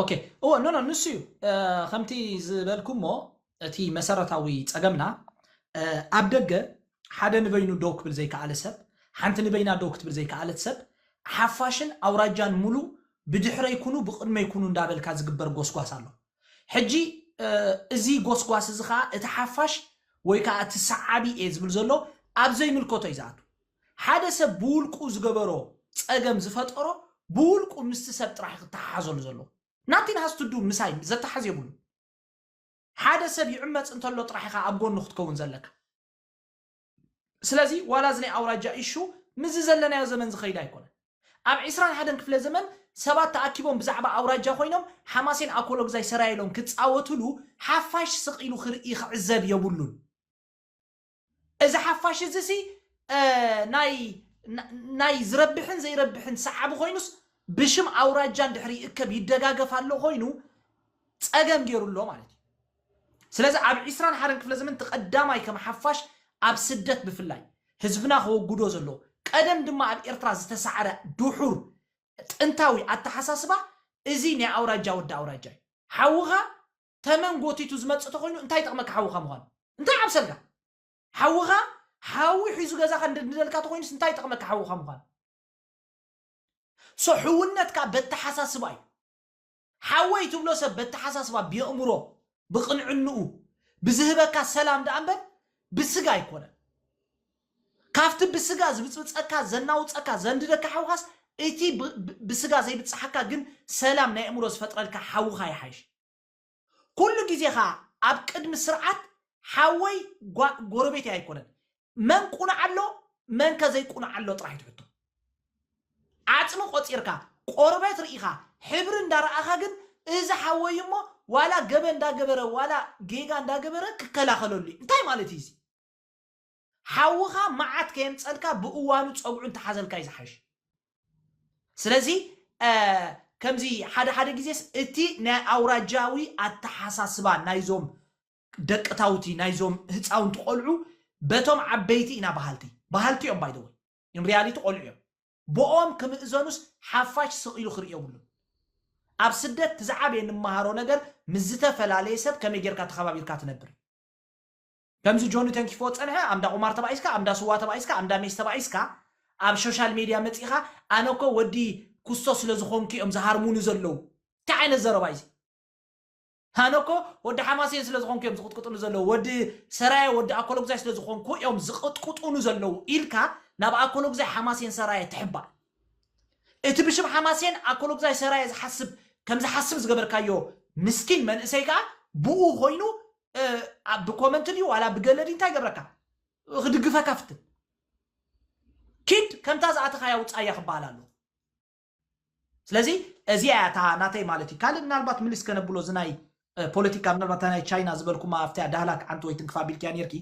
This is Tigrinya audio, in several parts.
ኦኬ እዎ ኖ ኖ ንሱ እዩ ከምቲ ዝበልኩሞ እቲ መሰረታዊ ፀገምና ኣብ ደገ ሓደ ንበይኑ ደው ክብል ዘይከኣለ ሰብ ሓንቲ ንበይና ደው ክትብል ዘይከኣለት ሰብ ሓፋሽን ኣውራጃን ሙሉ ብድሕረይ ኩኑ ብቕድመይ ኩኑ እንዳበልካ ዝግበር ጎስጓስ ኣሎ ሕጂ እዚ ጎስጓስ እዚ ከኣ እቲ ሓፋሽ ወይ ከኣ እቲ ሰዓቢ እየ ዝብል ዘሎ ኣብ ዘይምልከቶ እዩ ዝኣቱ። ሓደ ሰብ ብውልቁ ዝገበሮ ጸገም ዝፈጠሮ ብውልቁ ምስቲ ሰብ ጥራሕ እዩ ክተሓሓዘሉ ዘለዎ። ናቲን ሃስ ቱ ዱ ምሳይ ዘተሓዝ የብሉን። ሓደ ሰብ ይዕመጽ እንተሎ ጥራሕ ኢኻ ኣብ ጎኑ ክትከውን ዘለካ። ስለዚ ዋላ እዚ ናይ ኣውራጃ ኢሹ ምስዚ ዘለናዮ ዘመን ዝኸይድ ኣይኮነን። ኣብ ዕስራን ሓደን ክፍለ ዘመን ሰባት ተኣኪቦም ብዛዕባ ኣውራጃ ኮይኖም ሓማሴን ኣኮሎግዛይ ሰራየ ኢሎም ክጻወትሉ ሓፋሽ ስቕ ኢሉ ክርኢ ክዕዘብ የብሉን። እዚ ሓፋሽ እዚሲ ናይ ናይ ዝረብሕን ዘይረብሕን ሰዓቢ ኮይኑስ ብሽም ኣውራጃ እንድሕር ይእከብ ይደጋገፍ ኣሎ ኮይኑ ጸገም ጌሩ ኣሎ ማለት እዩ። ስለዚ ኣብ ዕስራን ሓደን ክፍለ ዘመን እቲ ቀዳማይ ከም ሓፋሽ ኣብ ስደት ብፍላይ ህዝብና ከወግዶ ዘለዎ ቀደም ድማ ኣብ ኤርትራ ዝተሳዕረ ድሑር ጥንታዊ ኣተሓሳስባ እዚ ናይ ኣውራጃ ወዲ ኣውራጃ እዩ። ሓውኻ ተመን ጎቲቱ ዝመጽእ ተኾይኑ እንታይ ይጠቕመካ ሓውኻ ምዃኑ? እንታይ ይዓብሰልካ? ሓውኻ ሓዊ ሒዙ ገዛኻ እንደንድደልካ ተኾይኑስ እንታይ ይጠቕመካ ሓውኻ ምዃኑ? ሶ ሕውነት ከኣ በተሓሳስባ እዩ። ሓወይ ትብሎ ሰብ በተሓሳስባ ብየእምሮ ብቅንዕንኡ ብዝህበካ ሰላም ደኣ እምበር ብስጋ ኣይኮነን ካብቲ ብስጋ ዝብጽብጸካ ዘናውጸካ ዘንድደካ ሓውኻስ እቲ ብስጋ ዘይብጽሓካ ግን ሰላም ናይ ኣእምሮ ዝፈጥረልካ ሓውኻ ይሓይሽ ኩሉ ግዜ ከኣ ኣብ ቅድሚ ስርዓት ሓወይ ጎረቤተይ ኣይኮነን መን ቁኑዕ ኣሎ መን ከ ዘይቁኑዕ ኣሎ ጥራሕ እዩ እቲ ሕቶ። ዓጽሚ ቆጺርካ ቆርበት ርኢኻ ሕብሪ እንዳ ረኣኻ ግን እዚ ሓወይ እዩ እሞ ዋላ ገበን እንዳ ገበረ ዋላ ጌጋ እንዳ ገበረ ክከላኸለሉ እዩ እንታይ ማለት እዩ እዚ ሓውኻ መዓት ከየምጸልካ ብእዋኑ ጸጉዑ እንተ ሓዘልካ እዩ ዝሓይሽ ስለዚ ከምዚ ሓደ ሓደ ግዜስ እቲ ናይ ኣውራጃዊ ኣተሓሳስባ ናይዞም ደቅታውቲ ናይዞም ህፃውንቲ ቆልዑ በቶም ዓበይቲ ኢና በሃልቲ በሃልቲ እዮም ባይ ዘ ወይ ኢን ሪያሊቲ ቆልዑ እዮም ብኦም ክምእዘኑስ ሓፋሽ ስቕ ኢሉ ክርኢ የብሉን ኣብ ስደት እቲ ዝዓበየ ንመሃሮ ነገር ምስ ዝተፈላለየ ሰብ ከመይ ጌርካ ተኸባቢርካ ትነብር እዩ ከምዚ ጆኒ ተንኪፎ ዝፀንሐ ኣብ እንዳ ቁማር ተባኢስካ ኣብ እንዳ ስዋ ተባኢስካ ኣብ እንዳ ሜስ ተባኢስካ ኣብ ሾሻል ሜድያ መፂእኻ ኣነ እኮ ወዲ ኩስቶ ስለ ዝኾንኩ እዮም ዝሃርሙኒ ዘለዉ እንታይ ዓይነት ዘረባ እዩ እዚ ኣነ እኮ ወዲ ሓማሴን ስለ ዝኾንኩ እዮም ዝቕጥቅጡኒ ዘለዉ ወዲ ሰራየ ወዲ ኣኮሎግዛይ ስለ ዝኾንኩ እዮም ዝቕጥቅጡኑ ዘለዉ ኢልካ ናብ ኣኮሎግዛይ ሓማሴን ሰራየ ትሕባእ እቲ ብሽም ሓማሴን ኣኮሎግዛይ ሰራየ ዝሓስብ ከም ዝሓስብ ዝገበርካዮ ምስኪን መንእሰይ ከዓ ብኡ ኮይኑ እ፣ ኣብ ብኮመንት ድዩ ዋላ ብገለ ድዩ እንታይ ገብረካ ክድግፈካ ፍትን ኪድ ከምታ ዝኣተኻያ ውፃያ ክበሃል ኣለዎ ስለዚ እዚኣ እያ እታ ናተይ ማለት እዩ ካልእ ምናልባት ምልስ ከነብሎ እዚ ናይ እ፣ ፖለቲካ ምናልባት እታ ናይ ቻይና ዝበልኩማ ኣብቲ ዳህላክ ሓንቲ ወይ ትንክፋ ቢልክያ ነርኪ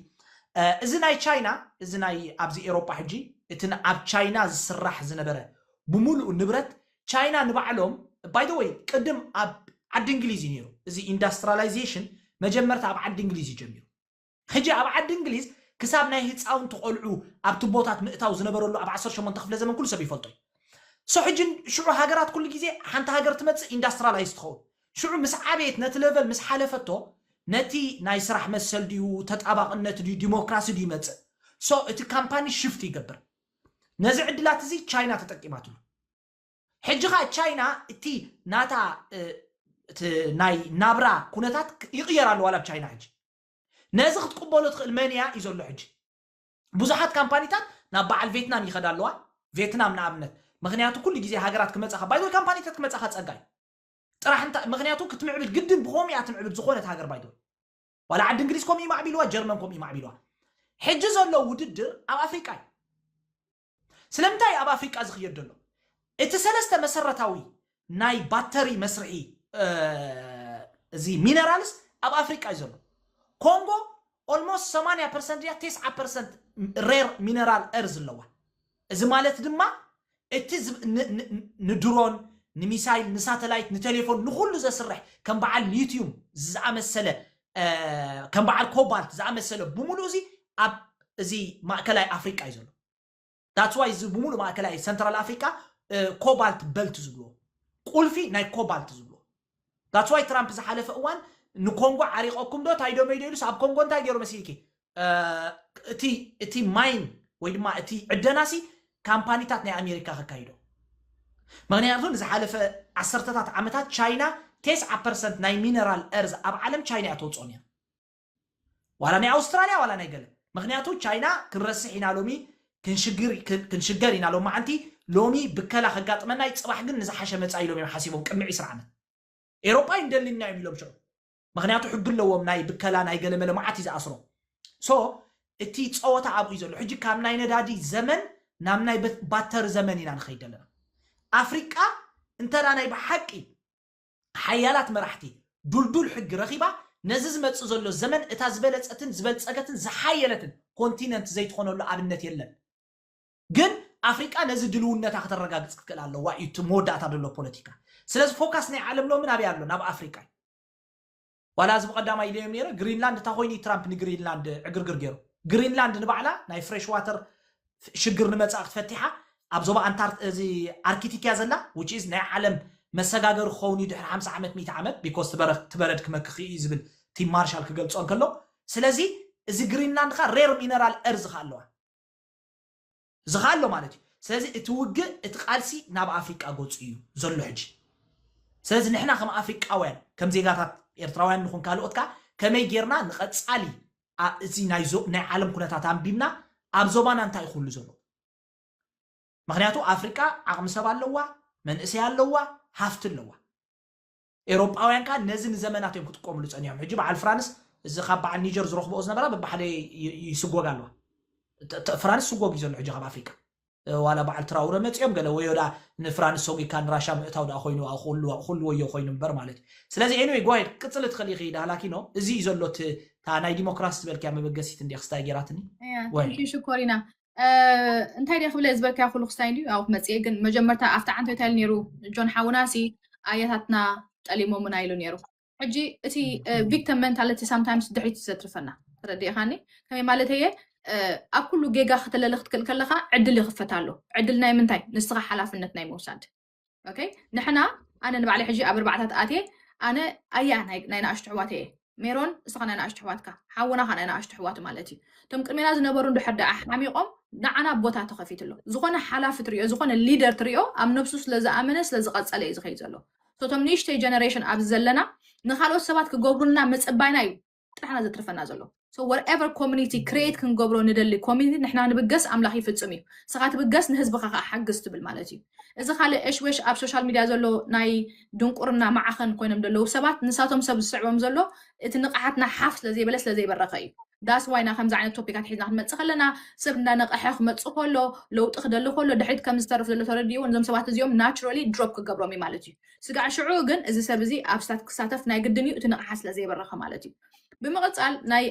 እ፣ እዚ ናይ ቻይና እዚ ናይ ኣብዚ ኤሮጳ ሕጂ እቲ ን- ኣብ ቻይና ዝስራሕ ዝነበረ ብምሉኡ ንብረት ቻይና ንባዕሎም ባይ ዘ ወይ ቅድም ኣብ ዓዲ እንግሊዝ እዩ ነይሩ እዚ ኢንዳስትራላይዜሽን መጀመርታ ኣብ ዓዲ እንግሊዝ እዩ ጀሚሩ ሕጂ ኣብ ዓዲ እንግሊዝ ክሳብ ናይ ህጻውንቲ ቆልዑ ኣብ ትቦታት ምእታው ዝነበረሉ ኣብ ዓሰርተ ሸሞንተ ክፍለ ዘመን ኩሉ ሰብ ይፈልጦ እዩ ሶ ሕጂ ሽዑ ሃገራት ኩሉ ግዜ ሓንቲ ሃገር ትመጽእ ኢንዳስትራላይዝ ትኸውን ሽዑ ምስ ዓበየት ነቲ ለቨል ምስ ሓለፈቶ ነቲ ናይ ስራሕ መሰል ድዩ ተጣባቕነት ድዩ ዲሞክራሲ ድዩ ይመጽእ ሶ እቲ ካምፓኒ ሽፍት ይገብር ነዚ ዕድላት እዚ ቻይና ተጠቂማትሉ ሕጂ ከኣ ቻይና እቲ ናታ እቲ ናይ ናብራ ኩነታት ይቕየር ኣለዋ ኣብ ቻይና ሕጂ ነዚ ክትቅበሎ ትኽእል መን እያ እዩ ዘሎ ሕጂ ብዙሓት ካምፓኒታት ናብ በዓል ቬትናም ይኸዳ ኣለዋ ቬትናም ንኣብነት ምክንያቱ ኩሉ ግዜ ሃገራት ክመጻኻ ባይዶ ካምፓኒታት ክመጻኻ ጸጋ እዩ ጥራሕ እንታ ምክንያቱ ክትምዕብል ግድን ብኸምኡ እያ ትምዕብል ዝኾነት ሃገር ባይዶ ዋላ ዓዲ እንግሊዝ ከምኡ እዩ ማዕቢልዋ ጀርመን ከምኡ እዩ ማዕቢልዋ ሕጂ ዘሎ ውድድር ኣብ ኣፍሪቃ እዩ ስለምንታይ እዩ ኣብ ኣፍሪቃ ዝኽየድ ዘሎ? እቲ ሰለስተ መሰረታዊ ናይ ባተሪ መስርሒ እዚ ሚነራልስ ኣብ ኣፍሪቃ እዩ ዘሎ። ኮንጎ ኦልሞስት 80 ፐርሰንት ድያ ቴስዓ ፐርሰንት ሬር ሚነራል እርዝ ኣለዋ። እዚ ማለት ድማ እቲ ዝብ- ን- ን- ን- ንድሮን ንሚሳይል ንሳተላይት ንቴሌፎን ንኹሉ ዘስርሕ ከም በዓል ሊትዩም ዝኣመሰለ ከም በዓል ኮባልት ዝኣመሰለ ብምሉእ እዚ ኣብ እዚ ማእከላይ ኣፍሪቃ እዩ ዘሎ ዳትስ ዋይ እዚ ብምሉእ ማእከላይ ሰንትራል ኣፍሪቃ ኮባልት በልት ዝብልዎ ቁልፊ ናይ ኮባልት ዝብልዎ ዳትስ ዋይ ትራምፕ ዝሓለፈ እዋን ንኮንጎ ዓሪቐኩም ዶ ታይዶመይዶ ኢሉስ ኣብ ኮንጎ እንታይ ገይሩ መሲልኪ እቲ እቲ ማይን ወይ ድማ እቲ ዕደናሲ ካምፓኒታት ናይ ኣሜሪካ ከካይዶ ምክንያቱ ንዝሓለፈ ዓሰርተታት ዓመታት ቻይና ቴስዓ ፐርሰንት ናይ ሚነራል እርዝ ኣብ ዓለም ቻይና እያ ተውፅኦ ነይራ ዋላ ናይ ኣውስትራልያ ዋላ ናይ ገለ ምክንያቱ ቻይና ክንረስሕ ኢና ሎሚ ክንሽግር ክን- ክንሽገር ኢና ሎም መዓንቲ ሎሚ ብከላ ከጋጥመና እዩ ፅባሕ ግን ንዝሓሸ መፃኢ ኢሎም እዮም ሓሲቦም ቅድሚ 20 ዓመት ኤሮጳ ይንደልየና እዮም ኢሎም ሽዑ ምክንያቱ ሕጊ ኣለዎም ናይ ብከላ ናይ ገለመለ መዓት እዩ ዝኣስሮም ሶ እቲ ፀወታ ኣብኡ እዩ ዘሎ ሕጂ ካብ ናይ ነዳዲ ዘመን ናብ ናይ በት- ባተሪ ዘመን ኢና ንኸይድ ዘለና ኣፍሪቃ እንተ ናይ ብሓቂ ሓያላት መራሕቲ ዱልዱል ሕጊ ረኺባ ነዚ ዝመጽእ ዘሎ ዘመን እታ ዝበለጸትን ዝበልጸገትን ዝሓየለትን ኮንቲነንት ዘይትኾነሉ ኣብነት የለን ግን ኣፍሪቃ ነዚ ድልውነታ ከተረጋግጽ ክትክእል ኣለዋ እዩ እቲ መወዳእታ ዘሎ ፖለቲካ ስለዚ ፎካስ ናይ ዓለም ሎሚ ናበይ ኣሎ ናብ ኣፍሪቃ እዩ ዋላ እዚ ብቐዳማ ኢለዮም ነይረ ግሪንላንድ እታ ኮይኑ ትራምፕ ንግሪንላንድ ዕግርግር ገይሩ ግሪንላንድ ንባዕላ ናይ ፍሬሽ ዋተር ሽግር ንመጻእ ክትፈቲሓ ኣብ ዞባ ኣንታር እዚ ኣርኪቲክ እያ ዘላ which is ናይ ዓለም መሰጋገሪ ክኸውን እዩ ድሕሪ 50 ዓመት 100 ዓመት ቢኮስ ትበረክ ትበረድ ክመክኽ እዩ ዝብል ቲም ማርሻል ክገልጾ እንከሎ ስለዚ እዚ ግሪንላንድ ካ ሬር ሚነራል እርዝ ካ ኣለዋ ዝኸ ኣሎ ማለት እዩ ስለዚ እቲ ውግእ እቲ ቃልሲ ናብ ኣፍሪቃ ገጹ እዩ ዘሎ ሕጂ ስለዚ ንሕና ከም ኣፍሪቃውያን ከም ዜጋታት ኤርትራውያን ንኹን ካልኦት ከኣ ከመይ ጌርና ንቐጻሊ ኣ- እዚ ናይ ዞ- ናይ ዓለም ኩነታት ኣንቢብና ኣብ ዞባና እንታይ እዩ ክህሉ ዘሎ ምክንያቱ ኣፍሪቃ ዓቕሚ ሰብ ኣለዋ መንእሰይ ኣለዋ ሃፍቲ ኣለዋ ኤሮጳውያን ከኣ ነዚ ንዘመናት እዮም ክጥቀምሉ ጸኒሖም። ሕጂ በዓል ፍራንስ እዚ ካብ በዓል ኒጀር ዝረኽብኦ ዝነበራ በብሓደ ይ- ይ- ይስጎጋ ኣለዋ። ተ- ተ- ፍራንስ ስጎግ እዩ ዘሎ ሕጂ ካብ ኣፍሪቃ። እ፣ ዋላ በዓል ትራውረ መጺኦም ገለ ወዮ ደኣ ንፍራንስ ሰጒግካ ንራሻ ምእታው ደኣ ኮይኑ ኣብ ኩሉ ኣብ ኩሉ ወዮ ኮይኑ እምበር ማለት እዩ። ስለዚ ኤኒወይ ጎ ኣሄድ ክትቅጽሊ ትኽእሊ ኢኺ ዳህላኪኖ። እዚ እዩ ዘሎ እቲ እታ ናይ ዲሞክራሲ ዝበልክያ መበገሲት እንድያ ክስታይ ገይራትኒ። እያ ጎ ኣሄድ። ቴንኪዩ ሽኮሪና እንታይ ደ ክብለ ዝበልካዮ ኩሉ ክስታይ እንድዩ ኣብኡ ክመፅእ ግን መጀመርታ ኣብቲ ዓንቶ እንታይ ኢሉ ነይሩ ጆን ሓውና ሲ ኣያታትና ጠሊሞምና ኢሉ ነይሩ ሕጂ እቲ ቪክተም ሜንታሊቲ ሳምታይምስ ድሕሪት ዘትርፈና ተረዲእኻኒ ከመይ ማለት እየ ኣብ ኩሉ ጌጋ ክተለለ ክትክእል ከለካ ዕድል ይኽፈት ኣሎ ዕድል ናይ ምንታይ ንስኻ ሓላፍነት ናይ ምውሳድ ኦኬ ንሕና ኣነ ንባዕለይ ሕጂ ኣብ ኣርባዕታት ኣትየ ኣነ ኣያ ናይ ንኣሽቱ ኣሕዋት እየ ሜሮን ንስኻ ናይ ንኣሽቱ ኣሕዋትካ ሓውና ካ ናይ ንኣሽቱ ኣሕዋቱ ማለት እዩ እቶም ቅድሜና ዝነበሩ እንድሕር ደኣ ሓሚቖም ንዓና ቦታ ተኸፊቱ ኣሎ ዝኾነ ሓላፊ ትሪኦ ዝኾነ ሊደር ትሪኦ ኣብ ነብሱ ስለ ዝኣመነ ስለ ዝቐፀለ እዩ ዝኸይ ዘሎ እቶም ንእሽተይ ጀነሬሽን ኣብዚ ዘለና ንካልኦት ሰባት ክገብሩልና ምፅባይና እዩ ጥራሕ ኢና ዘትርፈና ዘሎ so whatever community create ክንገብሮ ንደሊ community ንሕና ንብገስ ኣምላኽ ይፍጽም እዩ ንስኻ ትብገስ ንህዝብኻ ከዓ ሓግዝ ትብል ማለት እዩ እዚ ካልእ እሽወሽ ኣብ ሶሻል ሚድያ ዘሎ ናይ ድንቁርና ማዕኸን ኮይኖም ዘለዉ ሰባት ንሳቶም ሰብ ዝስዕቦም ዘሎ እቲ ንቕሓትና ሓፍ ስለዘይበለ ስለዘይበረኸ እዩ ዳስ ዋይና ከምዚ ዓይነት ቶፒካት ሒዝና ክንመፅእ ከለና ሰብ እንዳነቐሐ ክመፅእ ከሎ ለውጢ ክደሊ ከሎ ድሕሪት ከም ዝተርፍ ዘሎ ተረዲኡ ነዞም ሰባት እዚኦም ናቹራሊ ድሮፕ ክገብሮም እዩ ማለት እዩ ስጋዕ ሽዑ ግን እዚ ሰብ እዚ ኣብ ስታት ክሳተፍ ናይ ግድን እዩ እቲ ንቕሓት ስለ ዘይበረኸ ማለት እዩ። ብምቕጻል ናይ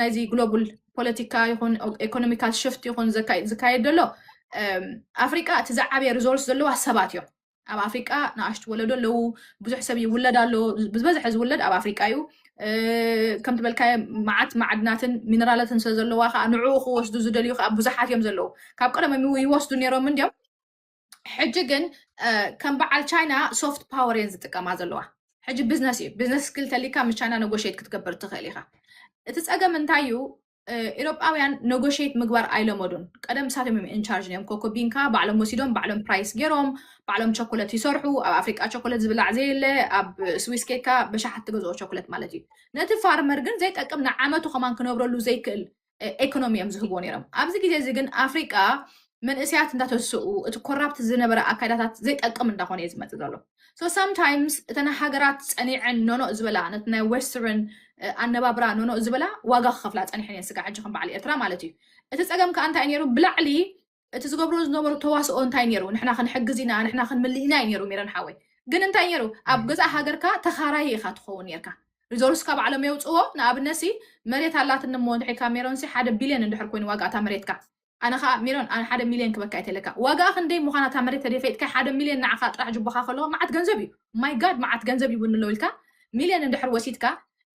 ናይዚ ግሎቡል ፖለቲካ ይኹን ኤኮኖሚካል ሽፍት ይኹን ዝካየድ ዘሎ ኣፍሪቃ እቲ ዝዓበየ ሪዞርስ ዘለዋ ሰባት እዮም። ኣብ ኣፍሪቃ ንኣሽቱ ወለዶ ኣለዉ፣ ብዙሕ ሰብ ይውለድ ኣሎ፣ ብዝበዝሐ ዝውለድ ኣብ ኣፍሪቃ እዩ። ከም ትበልካዮ መዓት ማዕድናትን ሚነራላትን ስለ ዘለዋ ከዓ ንዕኡ ክወስዱ ዝደልዩ ከዓ ብዙሓት እዮም ዘለዉ። ካብ ቀደም ይወስዱ ነይሮም እንዲዮም ሕጂ ግን ከም በዓል ቻይና ሶፍት ፓወር እየን ዝጥቀማ ዘለዋ ሕጂ ቢዝነስ እዩ ቢዝነስ ስኪል ተሊካ ምስ ቻይና ነጎሽት ክትገብር ትኽእል ኢኻ እቲ ፀገም እንታይ እዩ ኤሮጳውያን ነጎሽት ምግባር ኣይለመዱን ቀደም ንሳቶም እዮም ኢንቻርጅ እዮም ኮኮቢንካ ባዕሎም ወሲዶም ባዕሎም ፕራይስ ገይሮም ባዕሎም ቸኮለት ይሰርሑ ኣብ ኣፍሪቃ ቸኮለት ዝብላዕ ዘየለ ኣብ ስዊስ ኬካ በሻሓት ትገዝኦ ቸኮለት ማለት እዩ ነቲ ፋርመር ግን ዘይጠቅም ንዓመቱ ከማን ክነብረሉ ዘይክእል ኤኮኖሚ እዮም ዝህብዎ ነይሮም ኣብዚ ግዜ እዚ ግን ኣፍሪቃ መንእስያት እንዳተስኡ እቲ ኮራፕት ዝነበረ ኣካይዳታት ዘይጠቅም እንዳኾነ እዩ ዝመፅእ ዘሎ ሶ ሳምታይምስ እተን ሃገራት ፀኒዐን ኖኖእ ዝበላ ነቲ ናይ ዌስተርን ኣነባብራ ኖኖእ ዝበላ ዋጋ ክኸፍላ ፀኒሐን እየን ስጋ ሕጂ ከም በዓል ኤርትራ ማለት እዩ እቲ ፀገም ከዓ እንታይ ነይሩ ብላዕሊ እቲ ዝገብሮ ዝነበሩ ተዋስኦ እንታይ ነይሩ ንሕና ክንሕግዝ ኢና ንሕና ክንምልእ ኢና እዩ ነይሩ ሚረን ሓወይ ግን እንታይ ነይሩ ኣብ ገዛእ ሃገርካ ተኻራይ ኢኻ ትኸውን ነርካ ሪዞርስካ ባዕሎም የውፅዎ ንኣብነት ሲ መሬት ኣላትኒ እሞ እንድሕሪ ካብ ሜሮን ሲ ሓደ ቢልዮን እንድሕር ኮይኑ ዋጋ እታ መሬትካ ኣነ ከዓ ሜሮን ኣነ ሓደ ሚልዮን ክበካ የተለካ ዋጋኣ ክንደይ ምዃና እታ መሬት ተደፈይጥካ ሓደ ሚልዮን ንዓኻ ጥራሕ ጅቦኻ ከለዎ መዓት ገንዘብ እዩ ማይ ጋድ መዓት ገንዘብ ይውንሎ ኢልካ ሚልዮን እንድሕር ወሲድካ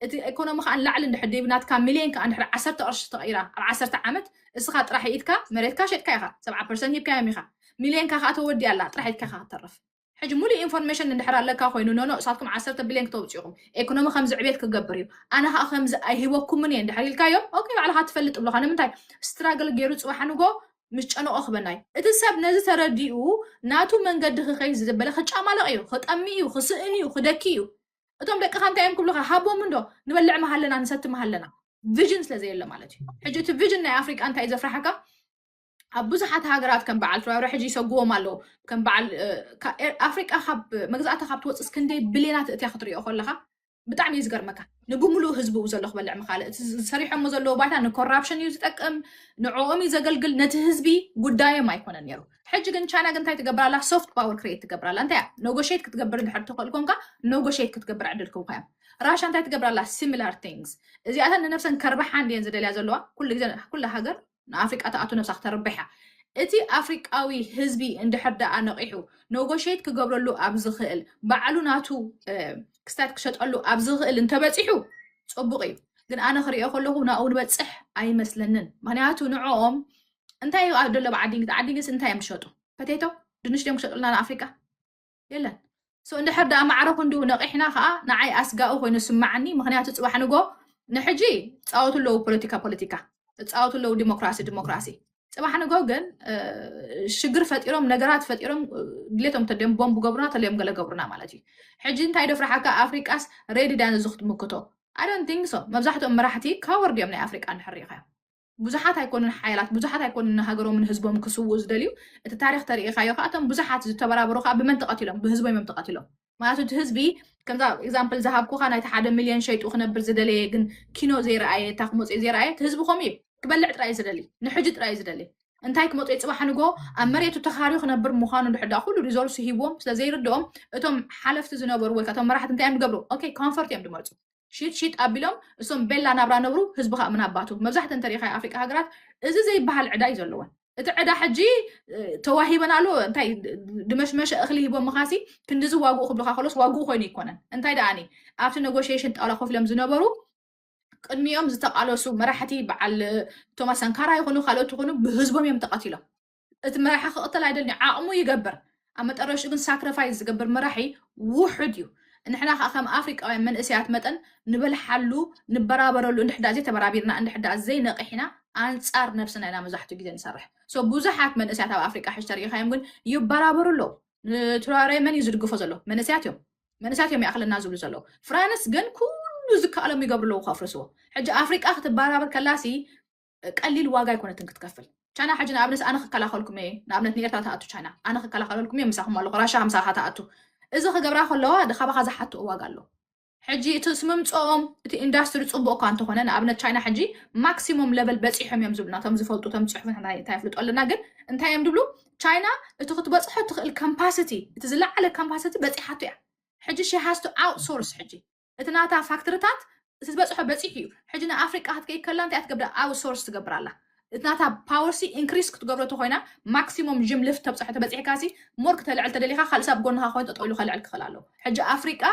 እቲ ኤኮኖሚ ከኣ ንላዕሊ እንድሕር ደይቡ ናትካ ሚልዮን ከኣ እንድሕር ዓሰርተ ቅርሺ ተቐይራ ኣብ ዓሰርተ ዓመት እስኻ ጥራሕ ኢድካ መሬትካ ሸጥካ ኢኻ ሰብዓ ፐርሰንት ሂብካዮም ኢኻ ሚልዮንካ ከኣ ተወዲኣ ኣላ ጥራሕ ኢድካ ኢኻ ክትተርፍ ሕጂ ሙሉእ ኢንፎርሜሽን እንድሕር ኣለካ ኮይኑ ኖኖ እሳትኩም ዓሰርተ ቢልዮን ክተውፅኡ ኢኹም ኤኮኖሚ ከምዚ ዕቤት ክገብር እዩ ኣነ ከኣ ከምዚ ኣይህበኩምን እየ እንድሕር ኢልካዮም ኦኬ ባዕልኻ ትፈልጥ እብልኻ ንምንታይ ስትራግል ገይሩ ፅባሕ ንጎ ምስ ጨነቆ ክበና እዩ እቲ ሰብ ነዚ ተረዲኡ ናቱ መንገዲ ክኸይድ ዝደበለ ክጫማለቕ እዩ ክጠሚ እዩ ክስእን እዩ ክደኪ እዩ እቶም ደቅኻ እንታይ እዮም ክብሉኻ ሃቦም እንዶ ንበልዕ መሃለና ንሰቲ መሃለና ቪዥን ስለ ዘየለ ማለት እዩ ሕጂ እቲ ቪዥን ናይ ኣፍሪቃ እንታይ እዩ ዘፍራሕካ ኣብ ብዙሓት ሃገራት ከም በዓል ትራውረ ሕጂ ይሰጉዎም ኣለዉ ከም በዓል እ፣ ካ- ኤር- ኣፍሪቃ ካብ መግዛእታ ካብ ትወፅስ ክንደይ ብሌናት እትያ ክትሪኦ ከለካ ብጣዕሚ እዩ ዝገርመካ ንብምሉእ ህዝቡ እዩ ዘሎ ክበልዕ ምካለ እቲ ዝሰሪሖሞ ዘለዎ ባይታ ንኮራፕሽን እዩ ዝጠቅም ንዕኦም እዩ ዘገልግል ነቲ ህዝቢ ጉዳዮም ኣይኮነን ነይሩ ሕጂ ግን ቻይና ግን እንታይ ትገብር ኣላ ሶፍት ፓወር ክሬት ትገብር ኣላ እንታይ እያ ኖጎሽት ክትገብር እንድሕር ትኽእል ኮንካ ኖጎሽት ክትገብር ዕድል ክብካ እዮም ራሻ እንታይ ትገብር ኣላ ሲሚላር ቲንግስ እዚኣተን ንነብሰን ከርብሓ እንድየን ዝደልያ ዘለዋ ኩሉ ግዜ ኩላ ሃገር ንኣፍሪቃ ትኣቱ ነብሳ ክተርብሕ እያ እቲ ኣፍሪቃዊ ህዝቢ እንድሕር ደኣ ነቂሑ ኖጎሽት ክገብረሉ ኣብ ዝኽእል ባዕሉ ናቱ ክስታት ክሸጠሉ ኣብ ዝኽእል እንተበፂሑ ፅቡቅ እዩ ግን ኣነ ክሪኦ ከለኹ ናብኡ ንበፅሕ ኣይመስለንን ምክንያቱ ንዕኦም እንታይ እዩ ኣብ ደለብ ዓዲንግስ ዓዲንግስ እንታይ እዮም ዝሸጡ ፐቴቶ ድንሽ ድዮም ክሸጡልና ንኣፍሪቃ የለን ሶ እንድሕር ደኣ ማዕረ ክንዱ ነቂሕና ከዓ ንዓይ ኣስጋኡ ኮይኑ ስማዓኒ ምክንያቱ ፅባሕ ንጎ ንሕጂ ፃወቱ ኣለዉ ፖለቲካ ፖለቲካ ፃወቱ ኣለዉ ዲሞክራሲ ዲሞክራሲ ፅባሕ ንጎ ግን እ፣ ሽግር ፈጢሮም ነገራት ፈጢሮም እ፣ ድሌቶም ተድዮም ቦምብ ገብሩና ተልዮም ገለ ገብሩና ማለት እዩ ሕጂ እንታይ ዶ ፍርሓካ ኣፍሪቃስ ሬዲ ድያ ነዚ ክትምክቶ ኣይ ዶንት ቲንክ ሶ መብዛሕትኦም መራሕቲ ካወርድ እዮም ናይ ኣፍሪቃ እንድሕር ሪኢኻዮ ብዙሓት ኣይኮኑን ሓያላት ብዙሓት ኣይኮኑን ንሃገሮምን ህዝቦም ክስውኡ ዝደልዩ እቲ ታሪክ ተርእኻዮ ከዓ እቶም ብዙሓት ዝተበራበሩ ከዓ ብመን ተቐቲሎም ብህዝቦም እዮም ተቐቲሎም ማለት እቲ ህዝቢ ከምዛ ኤግዛምፕል ዝሃብኩካ ናይቲ ሓደ ሚልዮን ሸይጡ ክነብር ዝደለየ ግን ኪኖ ዘይረኣየ እታ ክመፅኦ ዘይረኣየ እቲ ህዝቢ ከምኡ እዩ ክበልዕ ጥራይ ዝደሊ ንሕጂ ጥራይ ዝደሊ እንታይ ክመፅኦ ፅባሕ ንጎ ኣብ መሬቱ ተኻርዩ ክነብር ምዃኑ ድሕዳ ኩሉ ሪዞርስ ሂዎም ስለዘይርድኦም እቶም ሓለፍቲ ዝነበሩ ወይ እቶም መራሕቲ እንታይ እዮም ዝገብሩ ኦኬ ኮንፈርት እዮም ዝመርፁ ሺጥ ሺጥ ኣቢሎም እሶም ቤላ ናብራ ነብሩ ህዝቢ ካኣ ምን ኣባቱ መብዛሕተን እንተሪኢኻዮ ኣፍሪቃ ሃገራት እዚ ዘይበሃል ዕዳ እዩ ዘለወን እቲ ዕዳ ሕጂ ተዋሂበናሉ እንታይ ድመሽመሸ እኽሊ ሂቦምኻሲ ክንዲዚ ዋግኡ ክብልኻ ከሎስ ዋግኡ ኮይኑ ይኮነን እንታይ ደኣኒ ኣብቲ ነጎሽሽን ጣውላ ኮፍ ኢሎም ዝነበሩ ቅድሚኦም ዝተቃለሱ መራሕቲ በዓል ቶማስ ሳንካራ ይኹኑ ካልኦት ይኹኑ ብህዝቦም እዮም ተቐቲሎም እቲ መራሒ ክቕተል ኣይደልን እዩ ዓቕሙ ይገብር ኣብ መጠረሽኡ ግን ሳክሪፋይስ ዝገብር መራሒ ውሑድ እዩ ንሕና ከዓ ከም ኣፍሪቃውያን መንእሰያት መጠን ንበልሓሉ ንበራበረሉ እንድሕዳ ዘይተበራቢርና እንድሕዳ ዘይነቂሕና ኣንጻር ነብስና ኢና መብዛሕትኡ ግዜ ንሰርሕ ሶ ብዙሓት መንእሰያት ኣብ ኣፍሪቃ ሕጂ ተሪኢኻዮም ግን ይበራበሩ ኣለዉ ንትራሬ መን እዩ ዝድግፎ ዘሎ መንእሰያት እዮም መንእሰያት እዮም ይኣኽለና ዝብሉ ዘለዉ ፍራንስ ግን ኩሉ ዝከኣሎም ይገብሩ ኣለዉ ከፍርስዎ ሕጂ ኣፍሪቃ ክትበራበር ከላሲ ቀሊል ዋጋ ኣይኮነትን ክትከፍል። ቻይና ሕጂ ንኣብነት ኣነ ክከላኸልኩም እየ ንኣብነት ንኤርትራ ትኣቱ ቻይና ኣነ ክከላኸለልኩም እየ ምሳኹም ኣለኹ ራሻ ከምሳኻ ትኣቱ እዚ ክገብራ ከለዋ ካባኻ ዝሓትኦ ዋጋ ኣሎ ሕጂ እቲ ስምምፅኦም እቲ ኢንዳስትሪ ፅቡቅ እኳ እንተኾነ ንኣብነት ቻይና ሕጂ ማክሲሞም ለበል በፂሖም እዮም ዝብሉና እቶም ዝፈልጡ እቶም ፅሑፍ እንታይ ይፍልጡ ኣለና ግን እንታይ እዮም ዝብሉ ቻይና እቲ ክትበፅሖ ትኽእል ካምፓሲቲ እቲ ዝለዓለ ካምፓሲቲ በፂሓቶ እያ ሕጂ ሺ ሃስቱ ኣውትሶርስ ሕጂ እቲ ናታ ፋክትርታት እቲ ዝበፅሖ በፂሑ እዩ ሕጂ ንኣፍሪቃ ክትከይድ ከላ እንታይ ትገብር ኣብ ሶርስ ትገብር ኣላ እቲ ናታ ፓወርሲ ኢንክሪስ ክትገብሮ ተኮይና ማክሲሞም ጅም ልፍት ተብፅሖ ተበፂሕካሲ ሞር ክተልዕል ተደሊካ ካልእ ሰብ ጎንካ ኮይኑ ጠጠው ኢሉ ከልዕል ክኽእል ኣለዎ ሕጂ ኣፍሪቃ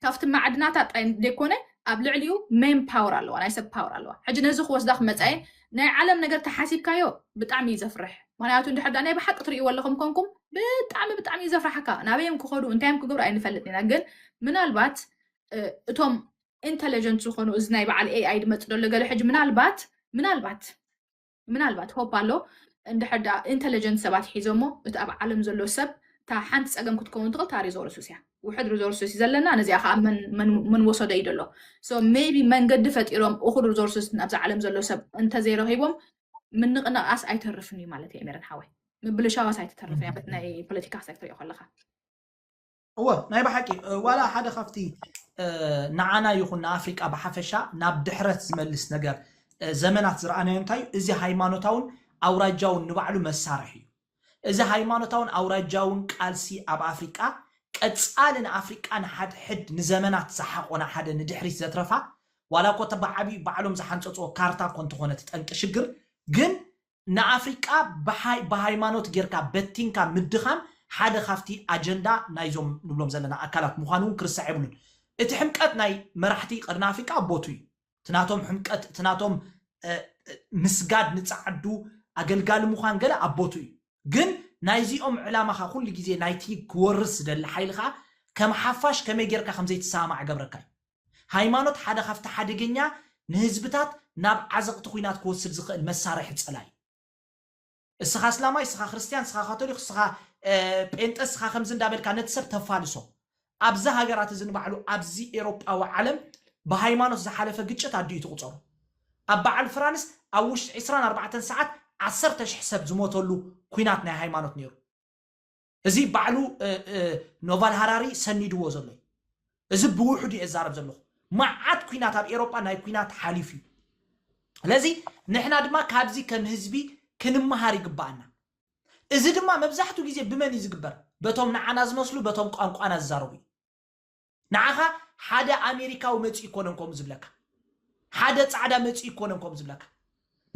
ካብቲ ማዕድናታ ጥራይ ዘይኮነ ኣብ ልዕሊኡ ሜን ፓወር ኣለዋ ናይ ሰብ ፓወር ኣለዋ ሕጂ ነዚ ክወስዳ ክመፃ እየን ናይ ዓለም ነገር ተሓሲብካዮ ብጣዕሚ እዩ ዘፍርሕ ምክንያቱ እንድሕር ናይ ብሓቂ ትርእይዎ ኣለኹም ኮንኩም ብጣዕሚ ብጣዕሚ እዩ ዘፍርሓካ ናበዮም ክኸዱ እንታዮም ክገብሩ ኣይንፈልጥ ኢና ግን ምናልባት እቶም ኢንተለጀንት ዝኾኑ እዚ ናይ በዓል ኤኣይ ድመፅ ደሎ ገለ ሕጂ ምናልባት ምናልባት ምናልባት ሆፕ ኣሎ እንድሕር ደኣ ኢንተለጀንት ሰባት ሒዞሞ እቲ ኣብ ዓለም ዘሎ ሰብ እታ ሓንቲ ፀገም ክትከውን ትኽእል እታ ሪዞርሱስ እያ ውሕድ ሪዞርስስ እዩ ዘለና ነዚኣ ከዓ መን ወሰዶ እዩ ዘሎ ሶ ሜቢ መንገዲ ፈጢሮም እኹል ሪዞርስስ ናብዚ ዓለም ዘሎ ሰብ እንተዘይረኺቦም ምንቕንቓስ ኣይተርፍን እዩ ማለት እዩ ሜረን ሓወይ ምብልሻዋስ ኣይትተርፍ እያ ናይ ፖለቲካ ክትሪኦ ከለካ እወ ናይ ብሓቂ ዋላ ሓደ ካብቲ ንዓና ይኹን ንኣፍሪቃ ብሓፈሻ ናብ ድሕረት ዝመልስ ነገር ዘመናት ዝረኣናዮ እንታይ እዩ እዚ ሃይማኖታውን ኣውራጃውን ንባዕሉ መሳርሒ እዩ እዚ ሃይማኖታውን ኣውራጃውን ቃልሲ ኣብ ኣፍሪቃ ቀጻሊ ንኣፍሪቃ ንሓድሕድ ንዘመናት ዝሓቖና ሓደ ንድሕሪት ዘትረፋ ዋላ እኮ እታ ብዓቢኡ ባዕሎም ዝሓንጸጽዎ ካርታ እኮ እንተኾነት ጠንቂ ሽግር ግን ንኣፍሪቃ ብሃይማኖት ጌርካ በቲንካ ምድኻም ሓደ ካብቲ ኣጀንዳ ናይዞም ንብሎም ዘለና ኣካላት ምዃኑ እውን ክርሳዕ የብሉን እቲ ሕምቀት ናይ መራሕቲ ቀርኒ ኣፍሪቃ ኣብ ቦትኡ እዩ። እቲ ናቶም ሕምቀት፣ እቲ ናቶም ምስጋድ ንጸዓዱ፣ ኣገልጋሊ ምዃን ገለ ኣብ ቦትኡ እዩ። ግን ናይዚኦም ዕላማ ከኣ ኩሉ ግዜ ናይቲ ክወርስ ዝደሊ ሓይሊ ከኣ ከም ሓፋሽ ከመይ ጌርካ ከም ዘይትሰማማዕ እገብረካ እዩ። ሃይማኖት ሓደ ካብቲ ሓደገኛ ንህዝብታት ናብ ዓዘቕቲ ኲናት ክወስድ ዝኽእል መሳርሒ ጸላኢ እዩ። እስኻ እስላማይ እስኻ ክርስትያን እስኻ ካቶሊኽ እስኻ ጴንጠ እስኻ ከምዚ እንዳበልካ ነቲ ሰብ ተፋልሶ ኣብዚ ሃገራት እዚ ንባዕሉ ኣብዚ ኤሮጳዊ ዓለም ብሃይማኖት ዝሓለፈ ግጭት ኣዲኡ ትቑፀሩ ኣብ በዓል ፍራንስ ኣብ ውሽጢ 24 ሰዓት ዓሰርተ ሽሕ ሰብ ዝሞተሉ ኩናት ናይ ሃይማኖት ነይሩ እዚ ባዕሉ ኖቫል ሃራሪ ሰኒድዎ ዘሎ እዩ እዚ ብውሕዱ እየ ዛረብ ዘለኹ መዓት ኩናት ኣብ ኤሮጳ ናይ ኩናት ሓሊፉ እዩ ስለዚ ንሕና ድማ ካብዚ ከም ህዝቢ ክንመሃር ይግባኣና እዚ ድማ መብዛሕትኡ ግዜ ብመን እዩ ዝግበር በቶም ንዓና ዝመስሉ በቶም ቋንቋና ዝዛረቡ እዩ ንዓኻ ሓደ ኣሜሪካዊ መፂኡ ይኮነን ከምኡ ዝብለካ ሓደ ፃዕዳ መፂኡ ይኮነን ከምኡ ዝብለካ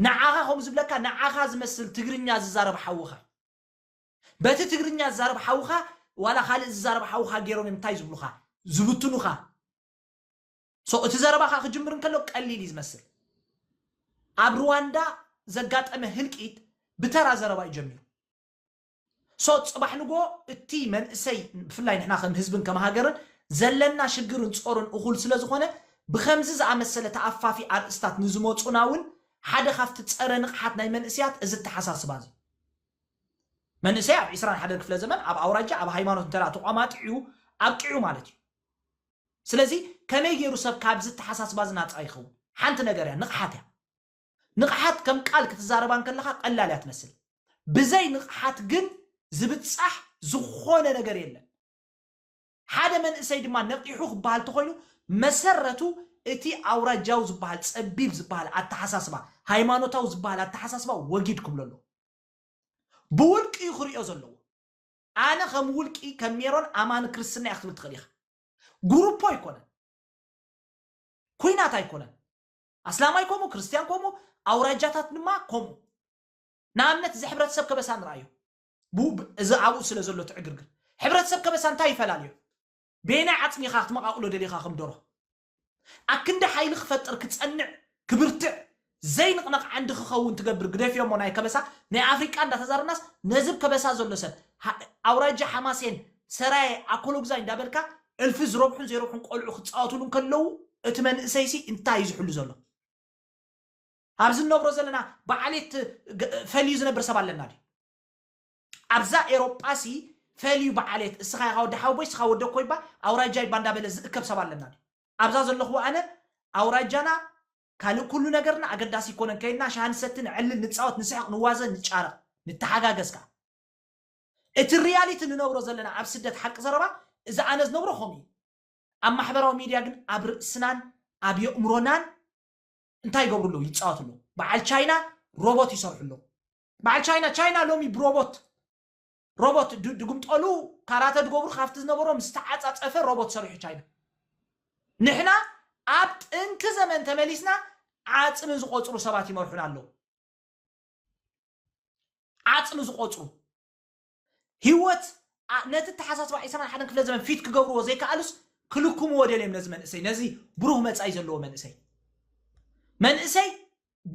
ንዓኻ ከምኡ ዝብለካ ንዓኻ ዝመስል ትግርኛ ዝዛረብ ሓውኻ እዩ በቲ ትግርኛ ዝዛረብ ሓውኻ ዋላ ካልእ ዝዛረብ ሓውኻ ጌሮም እዮም እንታይ ዝብሉኻ ዝብትኑኻ so እቲ ዘረባኻ ክጅምር እንከሎ ቀሊል እዩ ዝመስል ኣብ ሩዋንዳ ዘጋጠመ ህልቂት ብተራ ዘረባ እዩ ጀሚሩ ሶ ጽባሕ ንጎ እቲ መንእሰይ ብፍላይ ንሕና ከም ህዝብን ከም ሃገርን ዘለና ሽግርን ጾርን እኹል ስለ ዝኾነ ብከምዚ ዝኣመሰለ ተኣፋፊ ኣርእስታት ንዝመጹና እውን ሓደ ካብቲ ጸረ ንቕሓት ናይ መንእስያት እዚ ኣተሓሳስባ እዚ መንእሰይ ኣብ ዕስራን ሓደን ክፍለ ዘመን ኣብ ኣውራጃ ኣብ ሃይማኖት እንተ ተቋማጢዑ ኣብቂዑ ማለት እዩ። ስለዚ ከመይ ገይሩ ሰብ ካብዚ ኣተሓሳስባ እዚ ናጻ ይኸውን? ሓንቲ ነገር እያ፣ ንቕሓት እያ። ንቕሓት ከም ቃል ክትዛረባ እንከለኻ ቀላል እያ ትመስል። ብዘይ ንቕሓት ግን ዝብጻሕ ዝኾነ ነገር የለን። ሓደ መንእሰይ ድማ ነቒሑ ክበሃል ተኾይኑ መሰረቱ እቲ ኣውራጃዊ ዝበሃል ጸቢብ ዝበሃል ኣተሓሳስባ፣ ሃይማኖታዊ ዝበሃል ኣተሓሳስባ ወጊድ ክብሎ ኣለዎ። ብውልቂ'ዩ ክርእዮ ዘለዎ። ኣነ ከም ውልቂ ከም ሜሮን ኣማኒ ክርስትና'የ ክትብል ትኽእል ኢኻ። ጉሩፖ ኣይኮነን። ኩናት ኣይኮነን። ኣስላማይ ከምኡ፣ ክርስትያን ከምኡ፣ ኣውራጃታት ድማ ከምኡ። ንኣብነት እዚ ሕብረተሰብ ከበሳ ንርኣዮ። ብኡ እዚ ኣብኡ ስለ ዘሎ እቲ ዕግርግር ሕብረተሰብ ከበሳ እንታይ ይፈላልዮ በየናይ ዓጽሚ ኢኻ ክትመቓቕሎ ደሊኻ ከም ደርሆ ኣብ ክንዲ ሓይሊ ክፈጥር ክጸንዕ ክብርትዕ ዘይንቕነቕ ዓንዲ ክኸውን ትገብር ግደፍዮሞ ናይ ከበሳ ናይ ኣፍሪቃ እንዳተዛረብናስ ነዚ ብ ከበሳ ዘሎ ሰብ ኣውራጃ ሓማሴን ሰራየ ኣኮሎጉዛይ እንዳበልካ እልፊ ዝረብሑን ዘይረብሑን ቆልዑ ክጻወትሉ እንከለዉ እቲ መንእሰይሲ እንታይ እዩ ዝሕሉ ዘሎ ኣብዚ ንነብሮ ዘለና ብዓሌት ፈልዩ ዝነብር ሰብ ኣለና ድዩ? ኣብዛ ኤሮጳሲ ፈልዩ ብዓሌት እስኻ ኢኻ ወዲ ሓወቦይ እስኻ ወዲ ኮይባ ኣውራጃይ ባ እንዳበለ ዝእከብ ሰብ ኣለና ድዩ? ኣብዛ ዘለኹዎ ኣነ ኣውራጃና ካልእ ኩሉ ነገርና ኣገዳሲ ኣይኮነን ከይድና ሻሂ ንሰቲ ነዕልል ንጻወት ንስሕቕ ንዋዘ ንጫረቕ ንተሓጋገዝ ከኣ እቲ ሪያሊቲ ንነብሮ ዘለና ኣብ ስደት ሓቂ ዘረባ እዚ ኣነ ዝነብሮ ከምኡ እዩ ኣብ ማሕበራዊ ሚድያ ግን ኣብ ርእስናን ኣብ የእምሮናን እንታይ ይገብሩ ኣለዉ ይጻወቱ ኣለዉ በዓል ቻይና ሮቦት ይሰርሑ ኣለዉ በዓል ቻይና ቻይና ሎሚ ብሮቦት ሮቦት ድ- ድግምጠሉ ካራተ ድገብሩ ካብቲ ዝነበሮም ዝተዓፃፀፈ ሮቦት ሰሪሑ ቻይና ንሕና ኣብ ጥንኪ ዘመን ተመሊስና ዓፅሚ ዝቆፅሩ ሰባት ይመርሑና ኣለዉ ዓፅሚ ዝቆፅሩ ህይወት ኣ- ነቲ ኣተሓሳስባ ዕስራን ሓደን ክፍለ ዘመን ፊት ክገብርዎ ዘይከኣሉስ ክልክምዎ ደልዮም ነዚ መንእሰይ ነዚ ብሩህ መጻኢ ዘለዎ መንእሰይ መንእሰይ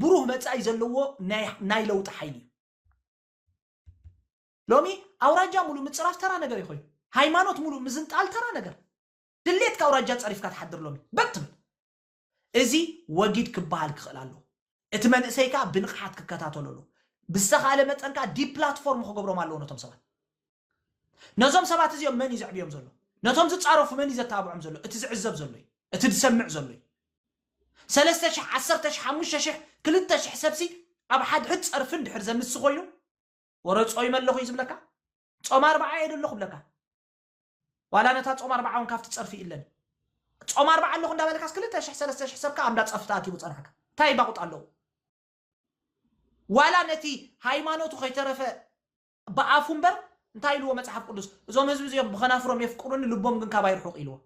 ብሩህ መጻኢ ዘለዎ ናይ ናይ ለውጢ ሓይሊ እዩ ሎሚ ኣውራጃ ሙሉእ ምፅራፍ ተራ ነገር እዩ ኮይኑ ሃይማኖት ሙሉእ ምዝንጣል ተራ ነገር ድሌትካ ኣውራጃ ፀሪፍካ ትሓድር ሎሚ በትብል እዚ ወጊድ ክበሃል ክኽእል ኣለዎ። እቲ መንእሰይ ከኣ ብንቕሓት ክከታተሎ ኣለዎ። ብዝተኻእለ መጠን ከኣ ዲፕላትፎርም ክገብሮም ኣለዎ ነቶም ሰባት። ነዞም ሰባት እዚኦም መን እዩ ዘዕብዮም ዘሎ? ነቶም ዝጻረፉ መን እዩ ዘተባብዖም ዘሎ? እቲ ዝዕዘብ ዘሎ እዩ። እቲ ዝሰምዕ ዘሎ እዩ። ሰለስተ ሽሕ፣ ዓሰርተ ሽሕ፣ ሓሙሽተ ሽሕ፣ ክልተ ሽሕ ሰብሲ ኣብ ሓድሕድ ጸርፊ እንድሕር ዘምሲ ኮይኑ፣ ወረ ጾይመ ኣለኹ እዩ ዝብለካ። ጾም ኣርብዓ እየ ደለኹ እብለካ። ዋላ ነታ ጾም ኣርብዓ እውን ካብቲ ጸርፊ ይእለኒ ጾም ኣርብዓ ኣለኹ እንዳበልካስ ክልተ ሽሕ ሰለስተ ሽሕ ሰብካ ኣብ እንዳ ጸርፊ ተኣኪቡ ጸናሕካ እንታይ ባቑጥ ኣለዎ ዋላ ነቲ ሃይማኖቱ ከይተረፈ ብኣፉ እምበር እንታይ ኢልዎ መጽሓፍ ቅዱስ እዞም ህዝቢ እዚኦም ብኸናፍሮም የፍቅሩኒ ልቦም ግን ካባይ ርሑቕ ኢልዎ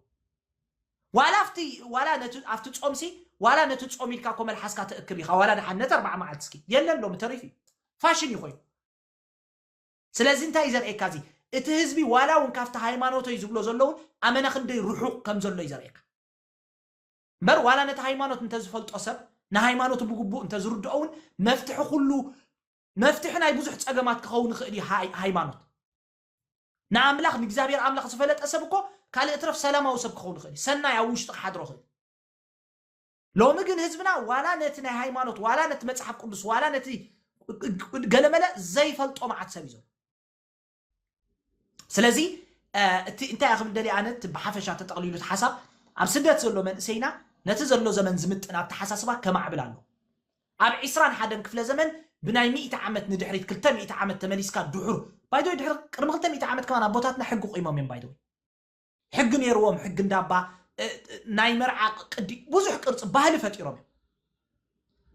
ዋላ ኣብቲ ዋላ ነቲ ኣብቲ ጾምሲ ዋላ ነቲ ጾም ኢልካ እኮ መልሓስካ ተእክብ ኢኻ ዋላ ድሓን ነቲ ኣርብዓ መዓልቲ እስኪ የለን ሎሚ ተሪፉ እዩ ፋሽን እዩ ኮይኑ ስለዚ እንታይ እዩ ዘርእየካ እዚ እቲ ህዝቢ ዋላ እውን ካብቲ ሃይማኖተይ ዝብሎ ዘሎ እውን ኣመና ክንደይ ርሑቕ ከም ዘሎ እዩ ዘርእየካ እምበር ዋላ ነቲ ሃይማኖት እንተዝፈልጦ ሰብ ንሃይማኖቱ ብግቡእ እንተዝርድኦ እውን መፍትሒ ኩሉ መፍትሒ ናይ ብዙሕ ጸገማት ክኸውን ይኽእል እዩ ሃይማኖት ንኣምላኽ ንእግዚኣብሔር ኣምላኽ ዝፈለጠ ሰብ እኮ ካልእ እትረፍ ሰላማዊ ሰብ ክኸውን ይኽእል እዩ ሰናይ ኣብ ውሽጢ ክሓድሮ ይኽእል ሎሚ ግን ህዝብና ዋላ ነቲ ናይ ሃይማኖት ዋላ ነቲ መጽሓፍ ቅዱስ ዋላ ነቲ ገለመለ ዘይፈልጦ መዓት ሰብ እዩ ዘሎ ስለዚ እ፣ እቲ እንታይ እያ ክብል ደልየ ኣነ እቲ ብሓፈሻ ተጠቕሊሉ እቲ ሓሳብ ኣብ ስደት ዘሎ መንእሰይና ነቲ ዘሎ ዘመን ዝምጥን ኣተሓሳስባ ከማዕብል ኣለዎ ኣብ ዒስራን ሓደን ክፍለ ዘመን ብናይ ሚእቲ ዓመት ንድሕሪት ክልተ ሚእቲ ዓመት ተመሊስካ ድሑር ባይደወይ ድሕሪ ቅድሚ ክልተ ሚእቲ ዓመት ከማን ኣቦታትና ሕጊ ቆይሞም እዮም ባይደወይ ሕጊ ነይርዎም ሕጊ እንዳባ ናይ መርዓ ቅዲ ብዙሕ ቅርፂ ባህሊ ፈጢሮም እዮም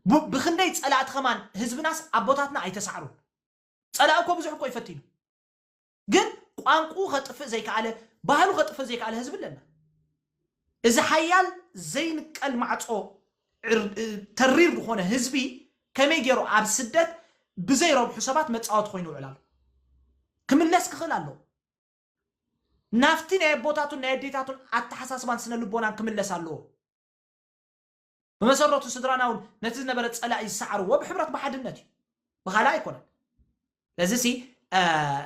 ብ- ብክንደይ ፀላእቲ ከማን ህዝብናስ ኣቦታትና ኣይተሳዕሩን ፀላእ እኮ ብዙሕ እኮ ይፈቲኑ ግን ቋንቁ ከጥፍእ ዘይከኣለ ባህሉ ከጥፍእ ዘይከኣለ ህዝቢ ኣለና እዚ ሓያል ዘይንቀል ማዕፆ ዕር- እ፣ ተሪር ዝኾነ ህዝቢ ከመይ ገይሩ ኣብ ስደት ብዘይረብሑ ሰባት መፃወቲ ኮይኑ ይውዕል ኣሎ ክምለስ ክኽእል ኣለዎ ናብቲ ናይ ኣቦታቱን ናይ ኣዴታቱን ኣተሓሳስባን ስነ ልቦናን ክምለስ ኣለዎ። ብመሰረቱ ስድራና እውን ነቲ ዝነበረ ጸላኢ ዝሰዓርዎ ብሕብረት ብሓድነት እዩ፣ ብኻልእ ኣይኮነን። ስለዚ ሲ